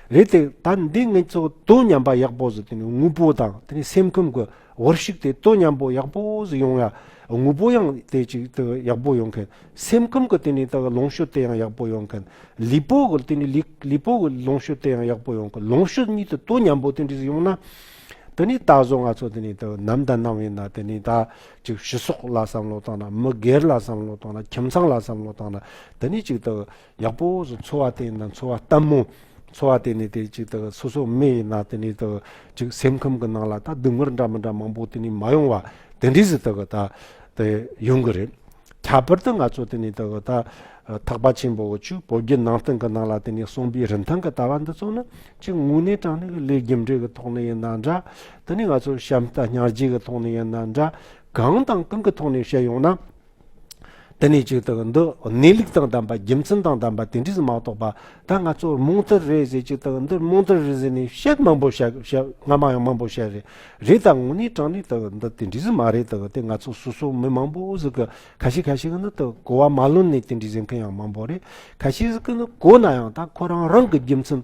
རེད་དེ། ད་འདི་ངས་ཚོ་དོན་ཉམས་པ་ཡག་པོ་ཟིག་དེ་ནི་དངོས་པོ་དང་དེ་ནི་སེམས་ཁམས་ཀྱི། བོར་ཞིག་དེ་ལྟོ་མཉམ་པོ་ཡག་པོ་ཟིག་ཡོང་ཡ། དངོས་པོ་ཡང་དེ་ཅིག་ཏུ་ཡག་པོ་ཡོང་མཁན། སེམས་ཁམས་ཀྱི་སྟེང་ནས་ད་གི་ལོངས་ཤོད་དེ་ཡང་ཡག་པོ་ཡོང་མཁན། ལུས་པོ་གི་སྟེང་ནས་ལུས་པོ་གི་ལོངས་ཤོད་དེ་ཡང་ཡག་པོ་ཡོང་མཁན་ལོངས་ཤོད་གཉིས་དེ་ལྟོ་མཉམ་པོ་དེ་འདྲ་ཟིག་ཡོང་ན། དེ་ནས་ད་གཟོད་ང་ཚོ་དེ་ནས་ད་ནམ་ད་ནམ་ཡིན་ན་དེ་ནས་ད་ཅིག་ཕྱི་སོག་ལ་བསམ་བློ་བཏང་ན་མི་སྒེར་ལ་བསམ་བློ་བཏང་ན་ཁྱིམ་ཚང་ལ་བསམ་བློ་བཏང་ན་དེ་ནས་ཅིག་ད། ཡག་པོ་བཟོ་འཚོ་བ་བརྟེན་ན་འཚོ་བ་ལྟ་མོ། འཚོ་བ་བརྟེན་ནས་དེ་ཅིག་དག་སོ་སོ་མེ་ཡིན་ན་དེ་ནས་དག་ཅིག་སེམས་ཁམས་ཀྱི་ནང་ལ་དག་སྡུག་བསྔལ་འདྲ་མི་འདྲ་མང་པོ་དེ་ནས་མ་ཡོང་བ་དེ་འདྲས་སུ་དག་དག་དེ་ཡོང་གི་རེད། ཁྱད་པར་དུ་ང་ཚོ་དེ་ནས་དག་དག་ཐག་པ་ཆེན་པོ་བོ་ཆུ་བོ་བརྒྱུད་ནང་བསྟན་གྱི་ནང་ལ་དེ་ནས་གསུངས་པའི་རིན་ཐང་གི་ལྟ་བ་འདི་ཚོ་ནི་གཅིག་དངོས་གནས་དྲང་གནས་ཀྱི་ལས་རྒྱུ་འབྲས་ཀྱི་ཐོག་ནས་ཡིན་ན་འདྲ་དེ་ནས་ང་ཚོ་བྱམས་རྟ་གཉའ་རྗེས་ཀྱི་ཐོག་ནས་ཡིན་ན་འདྲ་གང་དང་གང་གི་ཐོག་ནས་བཤད་ཡོང་ན། དེ་ནས་ཅིག་དག་འདི་གནས་ལུགས་དང་ལྡན་པ་རྒྱུ་མཚན་དང་ལྡན་པ་དེ་འདྲས་སུ་མ་གཏོགས་པ་ད་ང་ཚོར་རྨོངས་དད་རེད་ཟེར་ཅིག་དག་འདི་རྨོངས་དད་རེད་ཟེར་ནས་བཤད་མང་པོ་བཤད་སྔ་མ་ཡང་མང་པོ་བཤད་རེད་རེད་ད་ངོ་ནས་དྲང་ནས་དག་འདི་དེ་འདྲས་སུ་མ་རེད་དག་དེ་ང་ཚོ་སོ་སོ་མི་མང་པོ་ཟིག་གི་ཁ་ཤས་ཁ་ཤས་གི་ནི་དག་གོ་བ་མ་ལོན་ནས་དེ་འདྲས་ཟེར་མཁན་ཡང་མང་པོ་རེད་ཁ་ཤས་ཟིག་གི་ནི་གོ་ན་ཡང་ད་ཁོ་རང་རང་གི་རྒྱུ་མཚན་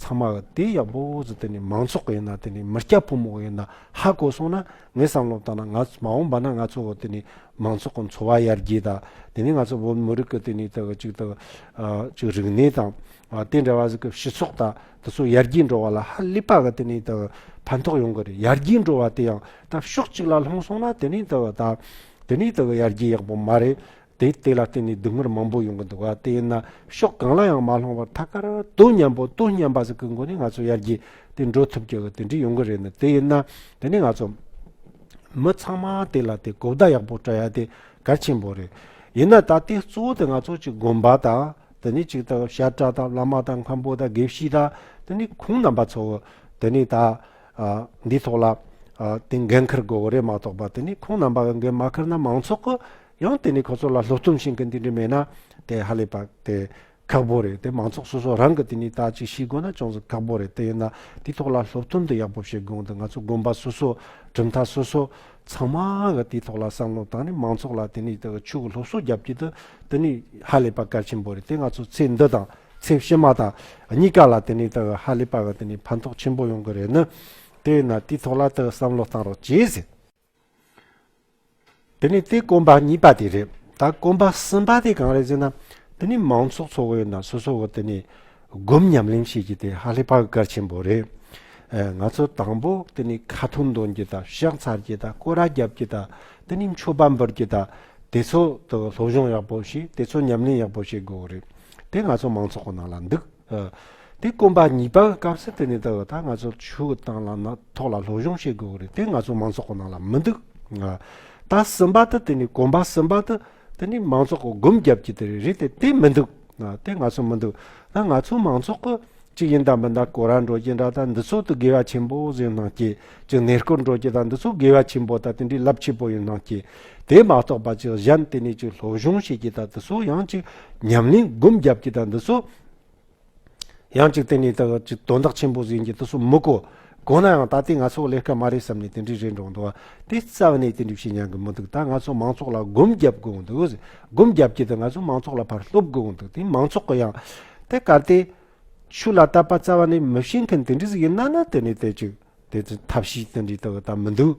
ཚང་མ་དེ་ཡག་པོ་ཟེར་དེ་ནི་མང་ཚོགས་ཡིན་ན་དེ་ནི་མི་སྐྱ་ཕོ་མོ་ཡིན་ན་ཧ་གོ་སོང་ན་ངས་བསམ་བློ་བཏང་ན་ང་མ་འོངས་པ་ན་ང་ཚོ་དེ་ནི་མང་ཚོགས་ཀྱི་འཚོ་བ་ཡར་རྒྱས་དང་དེ་ནི་ང་ཚོ་བོད་མི་རིགས་ཀྱི་དེ་ནི་དག་ཅིག་དག་ཅིག་རིག་གནས་དང་དེ་འདྲ་བ་ཟིག་གི་སྤྱི་ཚོགས་དང་དེ་ཚོ་ཡར་རྒྱས་འགྲོ་བ་ལ་ཧ་ལས་པ་གི་དེ་ནི་དག་ཕན་ཐོགས་ཡོང་གི་རེད་ཡར་རྒྱས་འགྲོ་བ་དེ་ཡང་དག་ཕྱོགས་གཅིག་ལ་ལྷུང་སོང་ན་དེ་ནི་དག་དག་དེ་ནི་དག་ཡར་རྒྱས་ཡག་པོ་མ་རེད་དེའི་སྟེགས་ལ་བརྟེན་ནས་སྡུག་བསྔལ་མང་པོ་ཡོང་གི་འདུག་དེ་ཡིན་ན་ཕྱོགས་གང་ལ་ཡང་མ་ལྷུང་བར་ཐད་ཀར་དོན་མཉམ་པོ་དོན་མཉམ་པ་ཟིག་གི་སྒོ་ནས་ང་ཚོ་ཡར་རྒྱས་དེ་འགྲོ་ཐུབ་རྒྱུ་དེ་འདྲས་ཡོང་གི་རེད་ནི་དེ་ཡིན་ན་དེ་ནས་ང་ཚོ་མི་ཚང་མ་དེ་ལ་དེ་གོ་བརྡ་ཡག་པོ་སྤྲོད་ཡ་དེ་གལ་ཆེན་པོ་རེད། ཡིན་ན་ད་ལྟའི་གཙོ་བོ་དེ་ང་ཚོ་གཅིག་དགོན་པ་དང་དེ་ནས་གཅིག་དང་ཤར་བཀྲ་དང་བླ་མ་དང་མཁན་པོ་དང་དགེ་བཤེས་དང་དེ་ནས་ཁོང་རྣམ་པ་ཚོ་བོ་དེ་ནས་ད་འདིའི་ཐོག་ལ་དེ་འགན་འཁུར་དགོས་བོ་རེད་མ་གཏོགས་པ་དེ་ནས་ཁོང་རྣམ་པ་གི་འགན་མ་འཁུར་ན་མང་ཚོགས་ཀྱི་ཡང་དེ་ནས་ཁོ་ཚོ་ལ་ལྷུག་རྩོམ་བཞིན་གྱི་འདི་འདྲ་མེད་ན། དེ་ཧ་ལས་པ་དེ། ཁག་པོ་རེད་དེ་མང་ཚོགས་སོ་སོ་རང་གི་དེ་ནས་དག་ཅིག་ཤིས་དགོས་ན་ཅུང་ཟད་ཁག་པོ་རེད་དེ་ཡིན་ན་དེའི་ཐོག་ལ་ལྷུག་རྩོམ་འདི་ཡག་པོ་བྱེད་དགོངས་དེ་ང་ཚོ་དགོན་པ་སོ་སོ། གྲུབ་མཐའ་སོ་སོ། ཚང་མ་གི་དེའི་ཐོག་ལ་བསམ་བློ་བཏང་ནས་མང་ཚོགས་ལ་དེ་ནས་དག་ཆུ་གི་ལྷུག་སོ་རྒྱབ་ཀྱི་དུ་དེ་ནས་ཧ་ལས་པ་གལ་ཆེན་པོ་རེད་དེ་ང་ཚོ་ཚེ་འདི་དང་ཚེ་ཕྱི་མ་དང་གཉིས་ཀ་ལ་དེ་ནས་དག་ཧ་ལས་པ་གི་དེ་ནས་ཕན་ཐོགས་ཆེན་པོ་ཡོང་གི་རེད་ནི། དེ་ཡིན་ན་དེའི་ཐོག་ལ་དག་བསམ་བློ་བཏང་རོགས་གྱིས་ཟེར། དེ་ནི་དེ་དཀོན་པ་གཉིས་པ་དེ་རེད། ད་དཀོན་པ་གསུམ་པ་དེ་གང་རེད་ཟེར་ན། དེ་ནི་མང་ཚོགས་ཚོ་བོའི་ནང་སོ་སོ་བོ་དེ་ནི་སྒོམ་ཉམས་ལེན་བྱེད་རྒྱུ་དེ་ཧ་ལས་པར་གལ་ཆེན་པོ་རེད། ང་ཚོ་དང་པོ་དེ་ནི་ཁ་ཐུག་འདོན་རྒྱུ་དང་ཤག་འཚར་རྒྱུ་དང་སྐོར་ར་རྒྱབ་རྒྱུ་དང་དེ་ནི་མཆོད་པ་འབུལ་རྒྱུ་དང་དེ་ཚོ་དང་སློབ་སྦྱོང་ཡག་པོ་བྱེད་དེ་ཚོ་ཉམས་ལེན་ཡག་པོ་བྱེད་དགོས་རེད། དེ་ང་ཚོ་མང་ཚོགས་ཁོ་ན་ལ་འདུག། དེ་དཀོན་པ་གཉིས་པ་སྐབས་སུ་དེ་ནས་ད་བར་ད་ང་ཚོར་ཆུ་བོ་དང་ལམ་སྣ་ཐོག་ལ་སློབ་སྦྱོང་བྱེད་དགོས་ཀྱི་རེད་དེ་ང་ཚོ་མང་ཚོགས་ཀྱི་ནང་ལ་མི་འདུག་ད་གསུམ་པ་དུ་དེ་ནས་དཀོན་པ་གསུམ་པ་དུ་དེ་ནས་མང་ཚོགས་ཀྱི་སྒོམ་རྒྱབ་ཀྱི་དེ་རེད་དེ་དེ་མི་འདུག་དེ་ང་ཚོ་མི་འདུག་ད་ང་ཚོ་མང་ཚོགས་ཀྱི་གཅིག་ཡིན་དང་མིན་དང་གོ་ར་འགྲོ་རྒྱུ་འདྲ་ད་འདི་ཚོགས་དུ་དགེ་བ་ཆེན་པོ་བཟོས་གནང་སྐྱེས་ཀྱི་གནས་སྐོར་འགྲོ་རྒྱུ་དང་འདི་ཚོ་དགེ་བ་ཆེན་པོ་དང་དེ་འདྲའི་རླབས་ཆེན་པོ་ཡིན་སྣང་སྐྱེས། དེ་མ་གཏོགས་པ་ཅིག་གཞན་དེ་ནས་ཅིག་སློབ་སྦྱོང་བྱེད་རྒྱུ་དང་དེ་ཚོ་ཡང་ཅིག་ཉམས་ལེན་སྒོམ་རྒྱབ་རྒྱུ་དང་འདི་ཚོ་ཡང་ཅིག་དེ་ནས་དག་ཅིག་དོན་དག་ཆེན་པོ་ཟིན་རྒྱུ་དེ་ཚོ་མི་གོ། གོ་ན་ཡང་ད་ལྟའི་ང་ཚོ་ལས་སྐལ་མ་རེད་བསམ་ནས་དེ་འདྲའི་རེ་འགྲོ་འདུག་དེ་རྩ་བ་ནས་དེ་འདྲའི་བྱེད་སྙམ་གྱི་མི་འདུག་ད་ང་ཚོ་མང་ཚོགས་ལ་སྒོམ་རྒྱབ་དགོས་འདུག་སྒོམ་རྒྱབ་རྒྱུ་དེ་ང་ཚོ་མང་ཚོགས་ལ་ཕར་སློབ་དགོས་འདུག་དེ་མང་ཚོགས་ཀྱི་ཡང་དེ་གར་དེ། ཆུ་ལ་བཏབ་པ་རྩ་བ་ནས་མི་ཤེས་མཁན་དེ་འདྲས་སུ་ཡིན་ན་ནི་དེ་ནས་དེ་ཅིག་དེ་ཚོའི་ཐབས་ཤེས་དེ་འདྲས་དག་ད་མི་འདུག་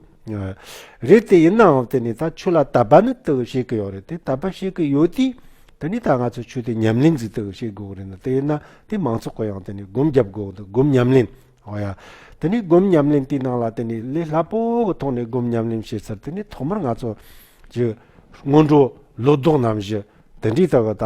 རེད་དེ་ཡིན་ནའང་དེ་ནས་ད་ཆུ་ལ་བཏབ་པ་ནི་དག་བྱེད་ཀྱི་ཡོད་རེད་དེ་བཏབ་པ་བྱེད་ཀྱི་ཡོད་དུས་དེ་ནས་ད་ང་ཚོས་ཆུ་དེ་ཉམས་ལེན་ཟིག་དག་བྱེད་དགོས་རེད་ན་དེ་ཡིན་ན་དེ་མང་ཚོགས་ཀྱི་ཡང་དེ་ནས་སྒོམ་རྒྱབ་དགོས་འདུག་སྒོམ་ཉམས་ལེན་ཨོ་ཡ། དེ་ནས་སྒོམ་ཉམས་ལེན་དེའི་ནང་ལ་དེ་ནས་ལས་སླ་པོ་གི་ཐོག་ནས་སྒོམ་ཉམས་ལེན་བྱེད་ཚར་དེ་ནས་ཐོག་མར་ང་ཚོ་ཀྱི་སྔོན་འགྲོ་ལོ་ཏོག་རྣམས་བཞི་དེ་འདྲས་དག་ད་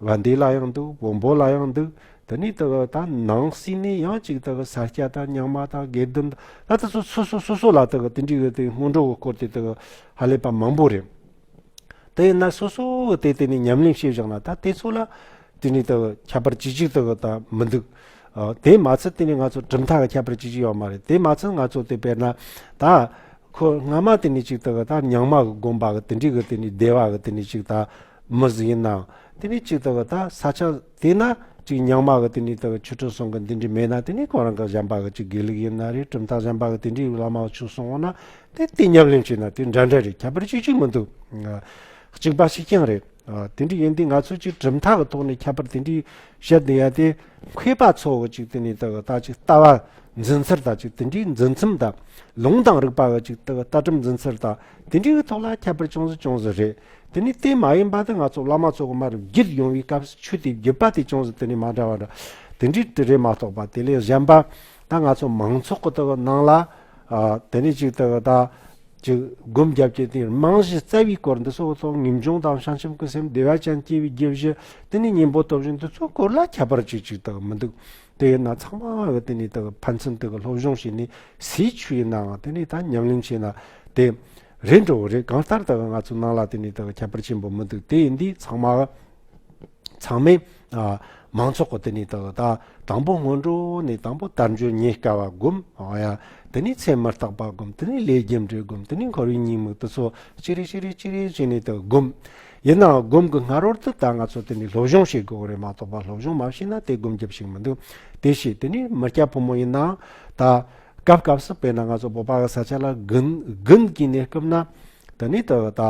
ལ་འདི་ལ་ཡང་འདུག་བོང་བུ་ལ་ཡང་འདུག་དེ་ནས་དེ་དག་ནང་སྲིད་ནས་ཡང་གཅིག་དེ་གི་ས་སྐྱ་དང་ཉག་མ་དང་དགེ་ལྡན་དང་ལ་དེ་ཚོ་སོ་སོ་སོ་སོ་ལ་དེ་གི་དེ་འདྲའི་གི་དེ་སྔོན་འགྲོ་གི་སྐོར་དེ་དེ་གི་ཧ་ལས་པ་མང་པོ་རེད། དེ་ཡིན་ན་སོ་སོ་གི་དེ་དེ་ནས་ཉམས་ལེན་བྱེད་བཞག་ན་ད་དེ་ཚོ་ལ་དེ་འདྲའི་དེ་གི་ཁྱད་པར་ཅི་ཅིག་དེ་གི་ད་མི་འདུག་དེ་མ་ཚད་དེ་ནས་ང་ཚོ་གྲུབ་མཐའ་གི་ཁྱད་པར་ཅི་ཅིག་ཡོད་མ་རེད་དེ་མ་ཚད་ང་ཚོ་དེ་དཔེར་ན་ད་ཁོ་སྔ་མ་དེ་ནས་ཅིག་དེ་གི་ད་ཉག་མ་གི་དགོན་པ་གི་དེ་འདྲའི་གི་དེ་ནས་སྡེ་བ་གི་དེ་ནས་ཅིག་ད་མི་ཟིག་ཡིན་ནའང་དེ་ནི་གཅིག་ལྟ་བུ་ད་ས་ཆ་དེ་ན་གཅིག་ཉག་མ་གི་དེ་ནི་ལྟ་བུ་ཆུ་ཁྲོད་སོང་གི་འདི་འདྲི་མེད་ན་དེ་ནི་གང་རང་གི་གཞན་པ་གི་གཅིག་དགེ་ལུགས་ཡིན་ན་རེད་གྲུབ་མཐའ་གཞན་པ་གི་དེ་འདྲི་བླ་མ་བ་ཆུ་སོང་འོང་ན་དེ་དེ་ཉབ་ལེམ་བྱེད་ན་དེ་འདྲ་འདྲ་རེད་ཁྱད་པར་ཅི་གཅིག་མི་འདུག་གཅིག་པ་ཞིག་ཀྱང་རེད་དེ་འདྲི་ཡིན་དུས་ང་ཚོས་གཅིག་གྲུབ་མཐའ་གི་ཐོག་ནས་ཁྱད་པར་དེ་འདྲི་བཤད་འདི་ཡ་དེ་མཁས་པ་ཚོ་གི་གཅིག་དེ་ནི་ལྟ་བུ་ད་གཅིག་ལྟ་བ་འཛིན་ཚུལ་ད་གཅིག་དེ་འདྲི་འཛིན་མཚམས་ད་ལུང་དང་རིགས་པ་གི་གཅིག་ལྟ་བུ་ལྟ་གྲུབ་འཛིན་ཚུལ་ད་དེ་འདྲི་གི་ཐོག་ལ་ཁྱད་པར་ཅུང་ཟད་ཅུང་ཟད་རེད། དེ་ནི་དེ་མ་ཡིན་པ་དེ་ང་ཚོ་བླ་མ་ཚོ་གོང་མ་རུ་བརྒྱུད་ཡོང་བའི་སྐབས་སུ་ཆོས་དེའི་བརྒྱུད་པ་དེ་ཅུང་ཟད་དེ་ནས་མ་འདྲ་བ་འདྲ། དེ་འདྲའི་དྲི་རེ་མ་གཏོགས་པ་དེ་ལས་གཞན་པ་ད་ང་ཚོ་མང་ཚོགས་ཀྱི་དག་སྣང་ལ། དེ་ནས་ཅིག་དག་ད་ཅིག་སྒོམ་རྒྱབ་ཀྱི་དེ་རྨང་གཞི་རྩ་བའི་སྐོར་འདི་སོགས་ཐོག་ངེས་འབྱུང་དང་བྱང་ཆུབ་ཀྱི་སེམས་བདེ་བ་ཅན་སྐྱེ་བའི་རྒྱུ་བཞི་དེ་ནི་སྙིང་པོ་སྟོབས་བཞི་འདི་ཚོའི་སྐོར་ལ་ཁྱད་པར་ཅིག་ཅིག་དག་མི་འདུག་དེས་ན་ཚང་མ་གི་དེ་ནས་དག་ཕན་ཚུན་དུ་གི་སློབ་སྦྱོང་བྱས་ནས་སའི་ཆུ་ཡི་ནའང་དེ་ནས་ད་ཉམས་ལེན་བྱས་ན་དེ་རེད་འགྲོ་གི་རེད་གང་ལྟར་དག་ང་ཚོ་ནང་ལ་དེ་ནས་དག་ཁྱད་པར་ཆེན་པོ་མི་འདུག་དེ་ཡིན་དུས་ཚང་མ་གི་ཚང་མས་མང་ཚོགས་གི་དེ་ནས་དག་ད་དང་པོ་སྔོན་འགྲོ་ནས་དང་པོ་དར་འཇོན་ཉེས་དཀའ་བ་སྒོམ་དེ་ནས་ཚེ་མི་རྟག་པ་སྒོམ་དེ་ནས་ལས་རྒྱུ་འབྲས་སྒོམ་དེ་ནས་འཁོར་བའི་ཉིང་མིག་དུ་ཚོགས་ཅི་རེ་ཅི་རེ་ཅི་རེ་བྱས་ནས་དག་སྒོམ། ཡིན་ནའང་སྒོམ་གི་སྔ་རོལ་དུ་ད་ང་ཚོ་དེ་ནི་སློབ་སྦྱོང་བྱེད་དགོས་གི་རེད་མ་གཏོགས་པ་སློབ་སྦྱོང་མ་བྱས་ན་དེ་སྒོམ་རྒྱབ་ཞིག་མི་འདུག་དེ་ཞིག་དེ་ནི་མི་སྐྱ་ཕོ་མོ་ཡིན་ནའང་ད། སྐབས་སྐབས་སུ་དཔེར་ན་ང་ཚོ་སྤོབས་པ་གི་ས་ཆ་ལ་དགུན་གྱི་གནས་སྐབས་ན། དེ་ནི་ད་ད་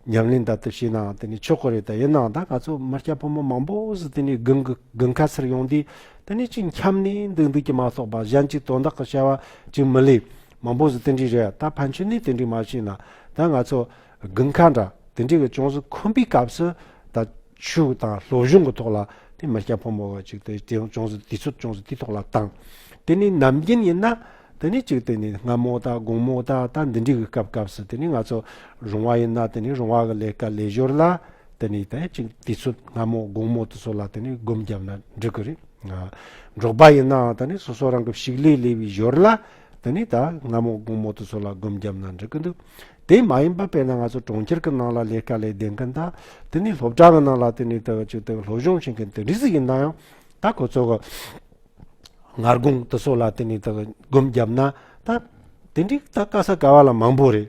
ཉམས་ལེན་ལྟར་དུ་བྱས་ནའང་དེ་ནི་ཆོག་གི་རེད་ད་ཡིན་ནའང་ད་ང་ཚོ་མི་སྐྱ་ཕོ་མོ་མང་པོ་ཞིག་དེ་ནི་དགུན་ཁ་སར་ཡོང་དུས་དེ་ནི་ཅིག་འཁྱམ་ནས་འདུག་འདུག་གི་མ་གཏོགས་པ་གཞན་གྱི་དོན་དག་གི་བྱ་བ་ཅིག་མི་ལས་མང་པོ་ཞིག་དེ་འདྲའི་རེད་ད་ཕན་ཆོད་ནས་དེ་འདྲའི་མ་བྱས་ན་ད་ང་ཚོ་དགུན་ཁ་འདྲ་དེ་འདྲའི་གི་ཅུང་ཟད་འཁུམ་པའི་སྐབས་སུ་ད་ཆུ་དང་ལྷོ་གཞུང་གི་ཐོག་ལ་དེ་མི་སྐྱ་ཕོ་མོ་བ་ཅིག་དེ་དེ་ཅུང་ཟད་དུས་ཚོད་ཅུང་ཟད་དུས་ཐོག་ལ་བཏང་དེ་ནི་ནམ་རྒྱུན་ཡིན་ན་དེ་ནི་ཅིག་དེ་ནི་སྔ་མོ་ད་དགུང་མོ་ད་ད་འདི་འདྲའི་གི་སྐབས་སྐབས་སུ་དེ་ནི་ང་ཚོ་རུང་བ་ཡིན་ན་དེ་ནི་རུང་བ་གི་ལས་ཀ་ལས་ཞོར་ལ་དེ་ནི་དེ་ཅིག་དུས་ཚོད་སྔ་མོ་དགུང་མོ་དུ་ཚོད་ལ་དེ་ནི་སྒོམ་བརྒྱབ་ན་འགྲིག་གི་རེད་འགྲོགས་པ་ཡིན་ནའང་ད་ནི་སོ་སོ་རང་གི་ཕྱུགས་ལས་ལས་པའི་ཞོར་ལ་འདི་ནས་ད་སྔ་མོ་དགོང་མོ་དུ་སོ་ལ་སྒོམ་རྒྱབ་ན་འགྲིག་གི་འདུག་དེ་མ་ཡིན་པ་དཔེར་ན་ང་ཚོ་གྲོང་ཁྱེར་གི་ནང་ལ་ལས་དཀའ་ལས་བདེན་གི་ད་དེ་ནས་སློབ་གྲྭ་གི་ནང་ལ་དེ་ནས་དེ་ཆུ་དེ་ལྷོ་གཞུང་ཞིང་གི་དེ་འདྲི་ཟིག་ཡིན་ན་ཡང་ད་ཁོ་ཚོ་གི་སྔར་དགོང་དུ་སོ་ལ་དེ་ནས་དེ་སྒོམ་རྒྱབ་ན་ད་དེ་འདྲི་ད་དཀའ་ས་དཀའ་བ་ལ་མང་པོ་རེད་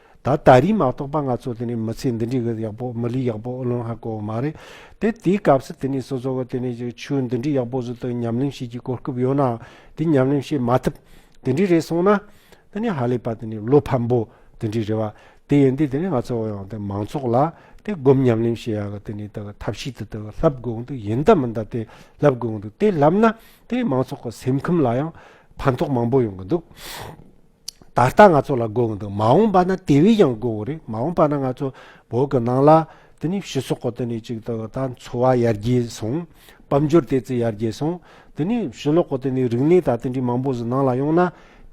ད་ད་རིང་མ་གཏོགས་པ་ང་ཚོ་དེ་ནས་མི་ཚེ་འདི་འདྲའི་གི་ཡག་པོ་མི་ལུས་ཡག་པོ་ལོན་ཧ་གོ་བ་མ་རེད་དེ་དེའི་སྐབས་སུ་དེ་ནས་སོ་སོ་གི་དེ་ནས་ཀྱི་ཆོས་འདི་འདྲའི་ཡག་པོ་ཟུར་དུ་ཉམས་ལེན་བྱེད་ཀྱི་གོ་སྐབས་ཡོད་ནའང་དེ་ཉམས་ལེན་བྱེད་མ་ཐུབ་དེ་འདྲའི་རེད་སོང་ན། དེ་ནས་ཧ་ལས་པ་དེ་ནས་བློ་ཕམ་པོ་དེ་འདྲའི་རེད་བ་དེ་ཡིན་དུས་དེ་ནས་ང་ཚོ་ཡང་དེ་མང་ཚོགས་ལ་དེ་སྒོམ་ཉམས་ལེན་བྱེད་ཡག་གི་དེ་ནས་དེ་གི་ཐབས་ཤེས་དེ་དེ་གི་ལབ་དགོས་འདུག་ཡིན་ད་མིན་ད་དེ་ལབ་དགོས་འདུག་དེ་ལབ་ན་དེ་མང་ཚོགས་གི་སེམས་ཁམས་ལ་ཡང་ཕན་ཐོགས་མང་པོ་ཡོང་གི་འདུག། ད་ལྟ་ང་ཚོ་ལ་དགོས་འདུག་མ་འོངས་པ་ན་དེ་བས་ཀྱང་དགོས་རེད་མ་འོངས་པ་ན་ང་ཚོ་བོད་ཀྱི་ནང་ལ་དེ་ནས་ཕྱི་སོག་གི་དེ་ནས་ཅིག་ད་ད་འཚོ་བ་ཡར་རྒྱས་སོང་དཔལ་འབྱོར་དེ་ཚོ་ཡར་རྒྱས་སོང་དེ་ནས་ཕྱི་ལོག་གི་དེ་ནས་རིག་གནས་དང་དེ་འདྲའི་མང་པོ་ཞིག་ནང་ལ་ཡོང་ན་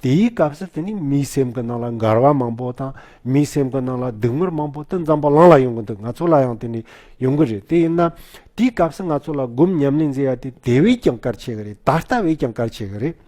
དེའི་སྐབས་སུ་དེ་ནས་མིའི་སེམས་ཀྱི་ནང་ལ་འགལ་བ་མང་པོ་དང་མིའི་སེམས་ཀྱི་ནང་ལ་སྡུག་བསྔལ་མང་པོ་དེ་འཛམ་བུ་གླང་ལ་ཡོང་གི་འདུག་ང་ཚོ་ལ་ཡང་དེ་ནས་ཡོང་གི་རེད་དེ་ཡིན་ན་དེའི་སྐབས་སུ་ང་ཚོ་ལ་སྒོམ་ཉམས་ལེན་མཛད་ཡ་དེ་དེ་བས་ཀྱང་གལ་ཆེ་གི་རེད་ད་ལྟ་བས་ཀྱང་གལ་ཆེ་གི་རེད།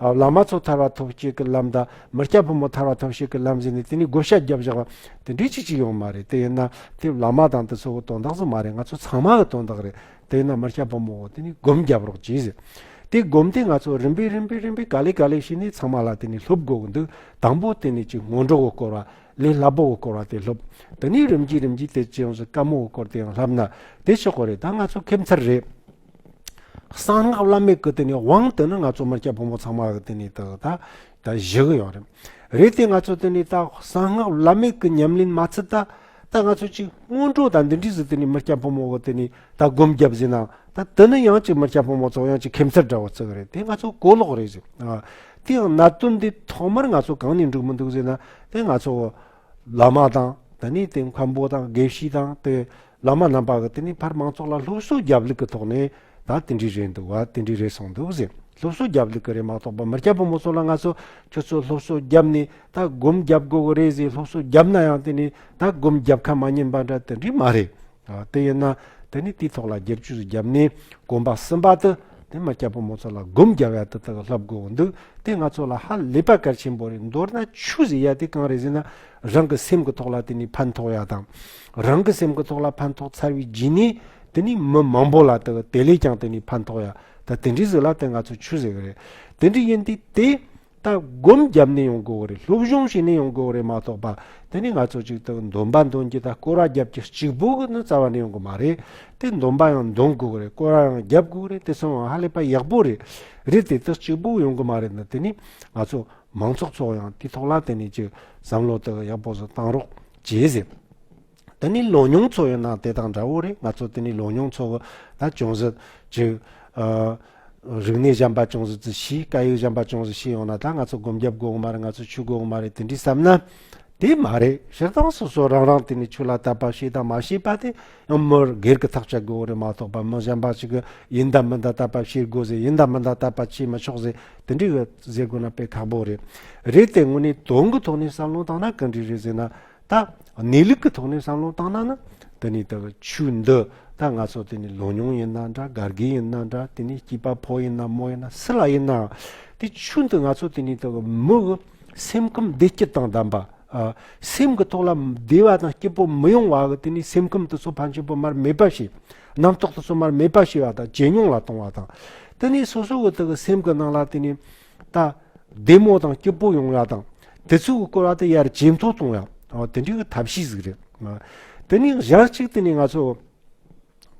བླ་མ་ཚོ་ཐར་བ་ཐོབ་ཤིག་གི་ལམ་དང་མི་སྐྱ་ཕོ་མོ་ཐར་བ་ཐོབ་ཤིག་གི་ལམ་ཟེར་ནས་དེ་ནས་བགོ་བཤའ་བརྒྱབ་བཞག་པ་དེ་འདྲའི་ཆིག་ཆིག་ཡོང་མ་རེད་དེ་ཡིན་ན་དེ་བླ་མ་དང་དེ་ཚོ་གི་དོན་དག་ཚོ་མ་རེད་ང་ཚོ་ཚང་མ་གི་དོན་དག་རེད་དེ་ཡིན་ན་མི་སྐྱ་ཕོ་མོ་དེ་ནས་བགོམ་བརྒྱབ་རོགས་གྱིས་ཟེར་དེ་བགོམ་དེ་ང་ཚོ་རིམ་པས་རིམ་པས་རིམ་པས་ག་ལེ་ག་ལེ་བྱས་ནས་ཚང་མ་ལ་དེ་ནས་སློབ་དགོས་གི་འདུག་དང་པོ་དེ་ནས་ཅིག་སྔོན་འགྲོ་གི་སྐོར་བ་ལས་སླ་པོ་གི་སྐོར་བ་དེ་སློབ་དེ་ནས་རིམ་གྱིས་རིམ་གྱིས་དེ་ཅི་ཡོང་ཟེར་དཀའ་མོ་གི་སྐོར་དེའང་བསླབ་ན་དེ་ཆོག་གི་རེད་ད་ང་ཚོ་ཁེབས་མཚར་རེད། གསང་སྔགས་བླ་མེད་ཀྱི་དེ་ནས་དབང་དེ་ནི་ང་ཚོ་མི་སྐྱ་ཕོ་མོ་ཚང་མ་གི་དེ་ནས་ད་ད་ད་བཞི་གི་ཡོང་རེད། རེད་དེ་ང་ཚོ་དེ་ནས་ད་གསང་སྔགས་བླ་མེད་ཀྱི་ཉམས་ལེན་མ་ཚུད་ད་ད་ང་ཚོ་གཅིག་སྔོན་འགྲོ་ད་འདི་འདྲིས་སུ་དེ་ནས་མི་སྐྱ་ཕོ་མོ་གི་དེ་ནས་ད་སྒོམ་རྒྱབ་བཟས་ན་ད་དེ་ནི་ཡང་གཅིག་མི་སྐྱ་ཕོ་མོ་ཚོ་ཡང་གཅིག་ཁེམ་ཚེར་འདྲ་བོ་ཚུགས་རེད་དེ་ང་ཚོ་གོ་ལོག་རེད་ཟེར། དེ་ཡང་གནད་དོན་འདི་ཐོག་མར་ང་ཚོ་གང་ནས་འབྲུག་མི་འདུག་ཟེར་ན་དེ་ང་ཚོ་བླ་མ་དང་དེ་ནས་དེ་མཁན་པོ་དང་དགེ་བཤེས་དང་དེ་བླ་མ་རྣམ་པ་གི་དེ་ནས་ཕར་མང་ཚོགས་ལ་སློབ་གསོ་རྒྱབ་ལུགས་གི་ཐོག་ནས་ད་དེ་འདྲའི་རེད་འདུག་བ་དེ་འདྲའི་རེད་གསུངས་འདུག་ཟེར་སློབ་གསོ་རྒྱབ་ལུགས་གི་རེད་མ་གཏོགས་པ་མི་སྐྱ་ཕོ་མོ་ཚོ་ལ་ང་ཚོ་ཁྱོད་ཚོ་སློབ་གསོ་རྒྱབ་ནས་ད་སྒོམ་རྒྱབ་དགོས་གི་རེད་ཟེར་སློབ་གསོ་རྒྱབ་ན་ཡང་དེ་ནས་ད་སྒོམ་རྒྱབ་ཁ་མ་ཉན་པ་འདྲ་དེ་འདྲའི་མ་རེད། དེ་ཡིན་ན་དེ་ནས་དེའི་ཐོག་ལ་རྒྱབ་ཇུས་རྒྱབ་ནས་གོམ་པ་སྲིན་པ་དེ་ནས་མི་སྐྱ་ཕོ་མོ་ཚོ་ལ་སྒོམ་རྒྱབ་ཡ་དེ་དག་ལྷབ་དགོས་གི་འདུག་དེ་ང་ཚོ་ལ་ཧ་ལས་པ་གལ་ཆེན་པོ་རེད་མདོར་ན་ཆུ་ཟེར་ཡ་དེ་གང་རེད་ཟེར་ན་རང་གི་སེམས་གི་ཐོག་ལ་དེ་ནས་ཕན་ཐོགས་ཡ་དང། རང་གི་སེམས་ཀྱི་ཐོག་ལ་ཕན་ཐོགས་ཚར་བའི་རྗེས་ནས་དེ་ནི་མི་མང་པོ་ལ་དག་དེ་ལས་ཀྱང་དེ་ནི་ཕན་ཐོགས་ཡ་ད་དེ་འདྲའི་ཟིག་ལ་དེ་ང་ཚོ་ཆུ་ཟེར་གི་རེད་དེ་འདྲའི་ཡིན་དུས་དེ་ད་སྒོམ་བརྒྱབ་ནས་ཡོང་དགོས་ཀྱི་རེད་སློབ་སྦྱོང་བྱས་ནས་ཡོང་དགོས་ཀྱི་རེད་མ་གཏོགས་པ་དེ་ནི་ང་ཚོ་གཅིག་ཏུ་འདོན་པ་འདོན་གྱི་ད་སྐོར་བ་བརྒྱབ་ཀྱི་གཅིག་པུ་གི་ནི་རྩ་བ་ནས་ཡོང་གི་མ་རེད་དེ་འདོན་པ་ཡང་འདོན་དགོས་ཀྱི་རེད་སྐོར་བ་ཡང་བརྒྱབ་དགོས་ཀྱི་རེད་དེ་སོང་ཡང་ཧ་ལས་པ་ཡག་པོ་རེད་རེད་དེ་དག་གཅིག་པུ་ཡོང་གི་མ་རེད་ན་དེ་ནི་ང་ཚོ་མང་ཚོགས་ཚོ་ཡང་དེའི་ཐོག་ལ་དེ་ནི་གཅིག་བསམ་བློ་དག་ཡག་པོ་ཟིག་བཏང་རོགས། བྱས་ཟིན། འདི་ནི་ལོ་མྱོང་འཚོ་བའི་ནང་དེ་དང་འདྲ་བོ་རེད་ང་ཚོ་དེ་ནི་ལོ་མྱོང་འཚོ་བ་ལ་ཅུང་ཟད་ཅིག། རིག་གནས་གཞན་པ་ཅུང་ཟད་ཙི་ཤི་སྐད་ཡིག་གཞན་པ་ཅུང་ཟད་ཤི་ཡོང་ན་ད་ང་ཚོ་སྒོམ་རྒྱབ་གོག་མ་རེད་ང་ཚོ་ཆུ་གོག་མ་རེད་དེ་འདྲའི་བསམ་ན། དེ་མ་རེད་སྤྱིར་བཏང་སོ་སོ་རང་རང་དེ་ནི་ཆུ་ལ་བལྟ་བ་ཤེས་དང་མ་ཤེས་པ་དེ་ཡང་མི་སྒེར་གྱི་ཐག་བཅད་དགོས་བོ་རེད་མ་གཏོགས་པ་མི་གཞན་པ་ཞིག་གིས་ཡིན་དང་མིན་དང་བལྟ་བ་ཤེས་དགོས་ཟེར་ཡིན་དང་མིན་དང་བལྟ་བ་བྱེད་མི་ཆོག་ཟེར་དེ་འདྲའི་བས་ཟེར་དགོས་ན་དཔེ་ཁག་པོ་རེད། རེད་དེ་དངོས་གནས་དོན་གྱི་ཐོག་ནས་བསམ་བློ་བཏང་ན་ག་འདྲི་རེད་ཟེར་ན། ད་གནས་ལུགས་ཀྱི་ཐོག་ནས་བསམ་བློ་བཏང་ན་ནི་དེ་ནི་ད་ཆུ་འདི་ད་ང་ཚོ་དེ་ནི་ལོ་ཉུང་ཡིན་ན་འདྲ་དགའ་དགའི་ཡིན་ན་འདྲ་དེ་ནི་སྐྱིད་པ་ཕོ་ཡིན་ན་མོ་ཡིན་ན་སུ་ལ་ཡིན་ནའང་དེ་ཆུ་འདི་ང་ཚོ་དེ་ནི་ད་མི་གི་སེམས་ཁམས་བདེ་སྐྱིད་དང་ལྡན་པ། སེམས་ཀྱི་ཐོག་ལ་བདེ་བ་དང་སྐྱིད་པོ་མི་ཡོང་བ་གི་དེ་ནི་སེམས་ཁམས་དེ་ཚོ་ཕ་མཆོད་པོ་མར་མེད་པ་ཞིག་རྣམ་རྟོག་ཏུ་བསོད་མར་མེད་པ་ཤེས་པ་དང་ཇེ་ཉུང་ལ་གཏོང་བ་དང། དེ་ནས་སོ་སོ་ཀུ་དག་གི་སེམས་ཀྱི་ནང་ལ་དེ་ནས། བདེ་མོ་དང་སྐྱིད་པོ་ཡོང་བ་དང། དེ་ཚོ་གི་བཀོལ་བ་དེ་ཡར་ཇེ་མཐོ་གཏོང་བ། དེ་འདྲའི་གི་ཐབས་ཤེས་ཟིག་རེད། དེ་ནས་གཞན་གཅིག་དེ་ནས་ང་ཚོ།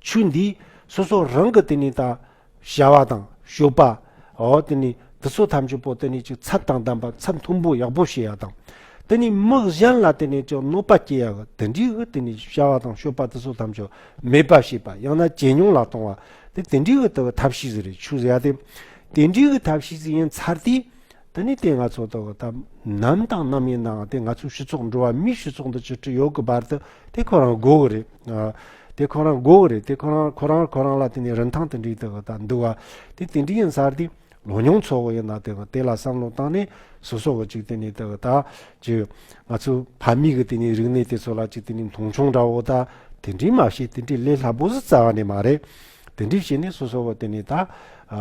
ཆོས་འདིས་སོ་སོ་རང་གི་དེ་ནས་ད། བྱ་བ་དང་སྤྱོད་པ། འོ་དེ་ནི་དེ་ཚོ་ཐམས་ཅད་པོ་དེ་ནི་ཅིག་ཚབ་དང་ལྡན་པ་ཚབ་མཐོན་པོ་ཡག་པོ་བྱེད་ཡ་དང། དེ་ནི་མི་གཞན་ལ་དེ་ནི་ཅིག་གནོད་པ་སྐྱེལ་ཡ་གི་དེ་འདྲིའི་གི་དེ་ནི་བྱ་བ་དང་སྤྱོད་པ་དེ་ཚོ་ཐམས་ཅད་མེད་པ་བྱེད་པ་ཡང་ན་ཇེ་ཉུང་ལ་གཏོང་བ་དེ་དེ་འདྲིའི་གི་དེ་གི་ཐབས་ཤེས་ཟིག་རེད་ཆུ་ཟེ་ཡ་དེ་དེ་འདྲིའི་གི་ཐབས་ཤེས་ཟིག་ཡིན་ཚར་དུས། འདི་ནི་དེ་ང་ཚོ་དང་དམ་ནམ་དང་ནམ་ཡིན་ནའང་དེ་ང་ཚོའི་སྤྱི་ཚོགས་འགྲོ་བ་མིའི་སྤྱི་ཚོགས་འདི་ཅི་འདྲ་ཡོད་ཀྱི་བར་དུ་དེ་ཁོ་རང་དགོས་ཀྱི་རེད། དེ་ཁོ་རང་དགོས་ཀྱི་རེད་དེ་ཁོ་རང་ཁོ་རང་ཁོ་རང་ལ་དེ་ནི་རིན་ཐང་དེ་འདྲའི་དེ་དང་འདུལ་བ་དེ་དེ་འདྲའི་ཡིན་ཚར་དུས་ལོ་མྱོང་ཚོ་བོ་ཡིན་ན་དེ་དེ་ལ་བསམ་བློ་བཏང་ནས་སོ་སོ་བོ་ཅིག་དེ་ནི་དེ་དག་གི་ང་ཚོའི་ཕ་མེས་ཀྱི་དེ་ནི་རིག་གནས་དེ་ཚོ་ལ་ཅིག་དེ་ནི་མཐོང་ཆུང་འདྲ་བོ་དང་དེ་འདྲའི་མ་བྱེད་དེ་འདྲའི་ལས་སླ་པོ་ཟིག་རྩ་བ་ནས་མ་རེད། དེ་འགྲིག་བྱས་ནས་སོ་སོ་བ་དེ་ནི་ད།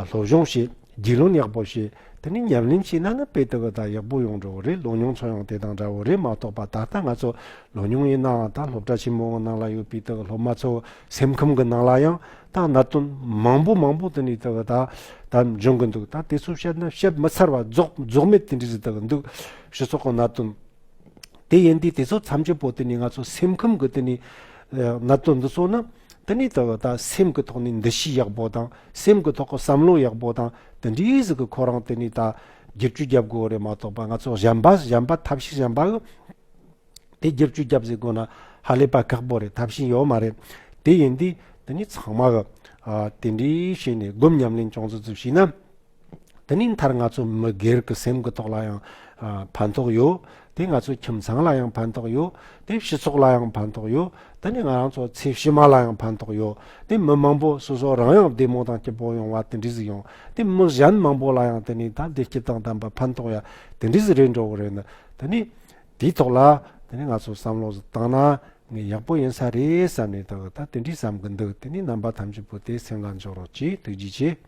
སློབ་སྦྱོང་བྱས། རྒྱུས་ལོན་ཡག་པོ་བྱས། དེ་ནས་ཉམས་ལེན་བྱས་ན་ནི་དཔེ་དེ་ག་ད་ཡག་པོ་ཡོང་འགྲོ་བོ་རེད་ལོ་མྱོང་ཚོ་ཡང་དེ་དང་འདྲ་བོ་རེད་མ་གཏོགས་པ་ད་ལྟ་ང་ཚོ་ལོ་མྱོང་ཡིན་ནའང་ད་སློབ་གྲྭ་ཆེན་མོ་འང་ནང་ལ་ཡོད་པའི་དེ་ག་སློབ་མ་ཚོ་སེམས་ཁམས་གི་ནང་ལ་ཡང་ད་གནད་དོན་མང་པོ་མང་པོ་དེ་ནི་དེ་ག་ད་ད་འབྱུང་གི་འདུག་ད་དེ་ཚོ་བཤད་ན་བཤད་མི་ཚར་བ་རྫོགས་རྫོགས་མེད་དེ་འདྲའི་རིགས་དེ་ག་འདུག་སྤྱི་ཚོགས་གི་གནད་དོན་དེ་ཡིན་དུས་དེ་ཚོ་མཚམས་ཆད་པོ་དེ་ནི་ང་ཚོ་སེམས་ཁམས་གི་དེ་ནི་གནད་དོན་འདི་ཚོ་ནི། འདི་ནས་ད་བར་ད་སེམས་ཀྱི་ཐོག་ནས་འདུ་ཤེས་ཡག་པོ་དང་སེམས་ཀྱི་ཐོག་གི་བསམ་བློ་ཡག་པོ་དང་དེ་འདྲའི་ཟིག་གི་ཁོ་རང་དེ་ནས་ད་སྒེར་གཅོད་རྒྱབ་དགོས་རེད་མ་གཏོགས་པ་ང་ཚོ་གཞན་པ་གཞན་པ་ཐབས་ཤེས་གཞན་པ་གི་དེ་སྒེར་གཅོད་རྒྱབ་ཟིག་དགོས་ན་ཧ་ལས་པ་ཁག་པོ་རེད་ཐབས་ཤེས་ཡོད་མ་རེད་དེ་ཡིན་དུས་དེ་ནས་ཚང་མ་གི་དེ་འདྲའི་བྱས་ནས་སྒོམ་ཉམས་ལེན་ཅུང་ཙི་ཙི་བྱས་ན་དེ་ནས་མཐར་ང་ཚོ་མི་སྒེར་གྱི་སེམས་ཀྱི་ཐོག་ལ་ཡང་ཕན་ཐོགས་ཡོད། དེ་ང་ཚོའི་ཁྱིམ་ཚང་ལ་ཡང་ཕན་ཐོགས་ཡོད། དེ་སྤྱི་ཚོགས་ལ་ཡང་ཕན་ཐོགས་ཡོད། དེ་ནས་ང་རང་ཚོ་ཚེ་ཕྱི་མ་ལ་ཡང་ཕན་ཐོགས་ཡོད། དེ་མི་མང་པོ་སོ་སོ་རང་ཡང་བདེ་མོ་དང་སྐྱིད་པོ་ཡོང་བ་དེ་འདྲས་ཡིན། དེ་མི་གཞན་མང་པོ་ལ་ཡང་དེ་ནས་ད་བདེ་སྐྱིད་དང་ལྡན་པ་ཕན་ཐོགས་ཡ་དེ་འདྲས་རེད་འགྲོ་གི་རེད་ནི། དེ་ནས་དེའི་ཐོག་ལ་དེ་ནས་ང་ཚོ་བསམ་བློ་བཏང་ན་ངས་ཡག་པོ་ཡིན་ས་རེད་བསམ་ནས་ད་དེ་འདྲས་བསམ་གྱི་འདུག་དེ་ནས་རྣམ་པ་ཐམས་ཅད་པོ་དེ་སེམས་ལ་འཇོག་རོགས་གྱིས་ཐུགས་རྗེ་ཆེ།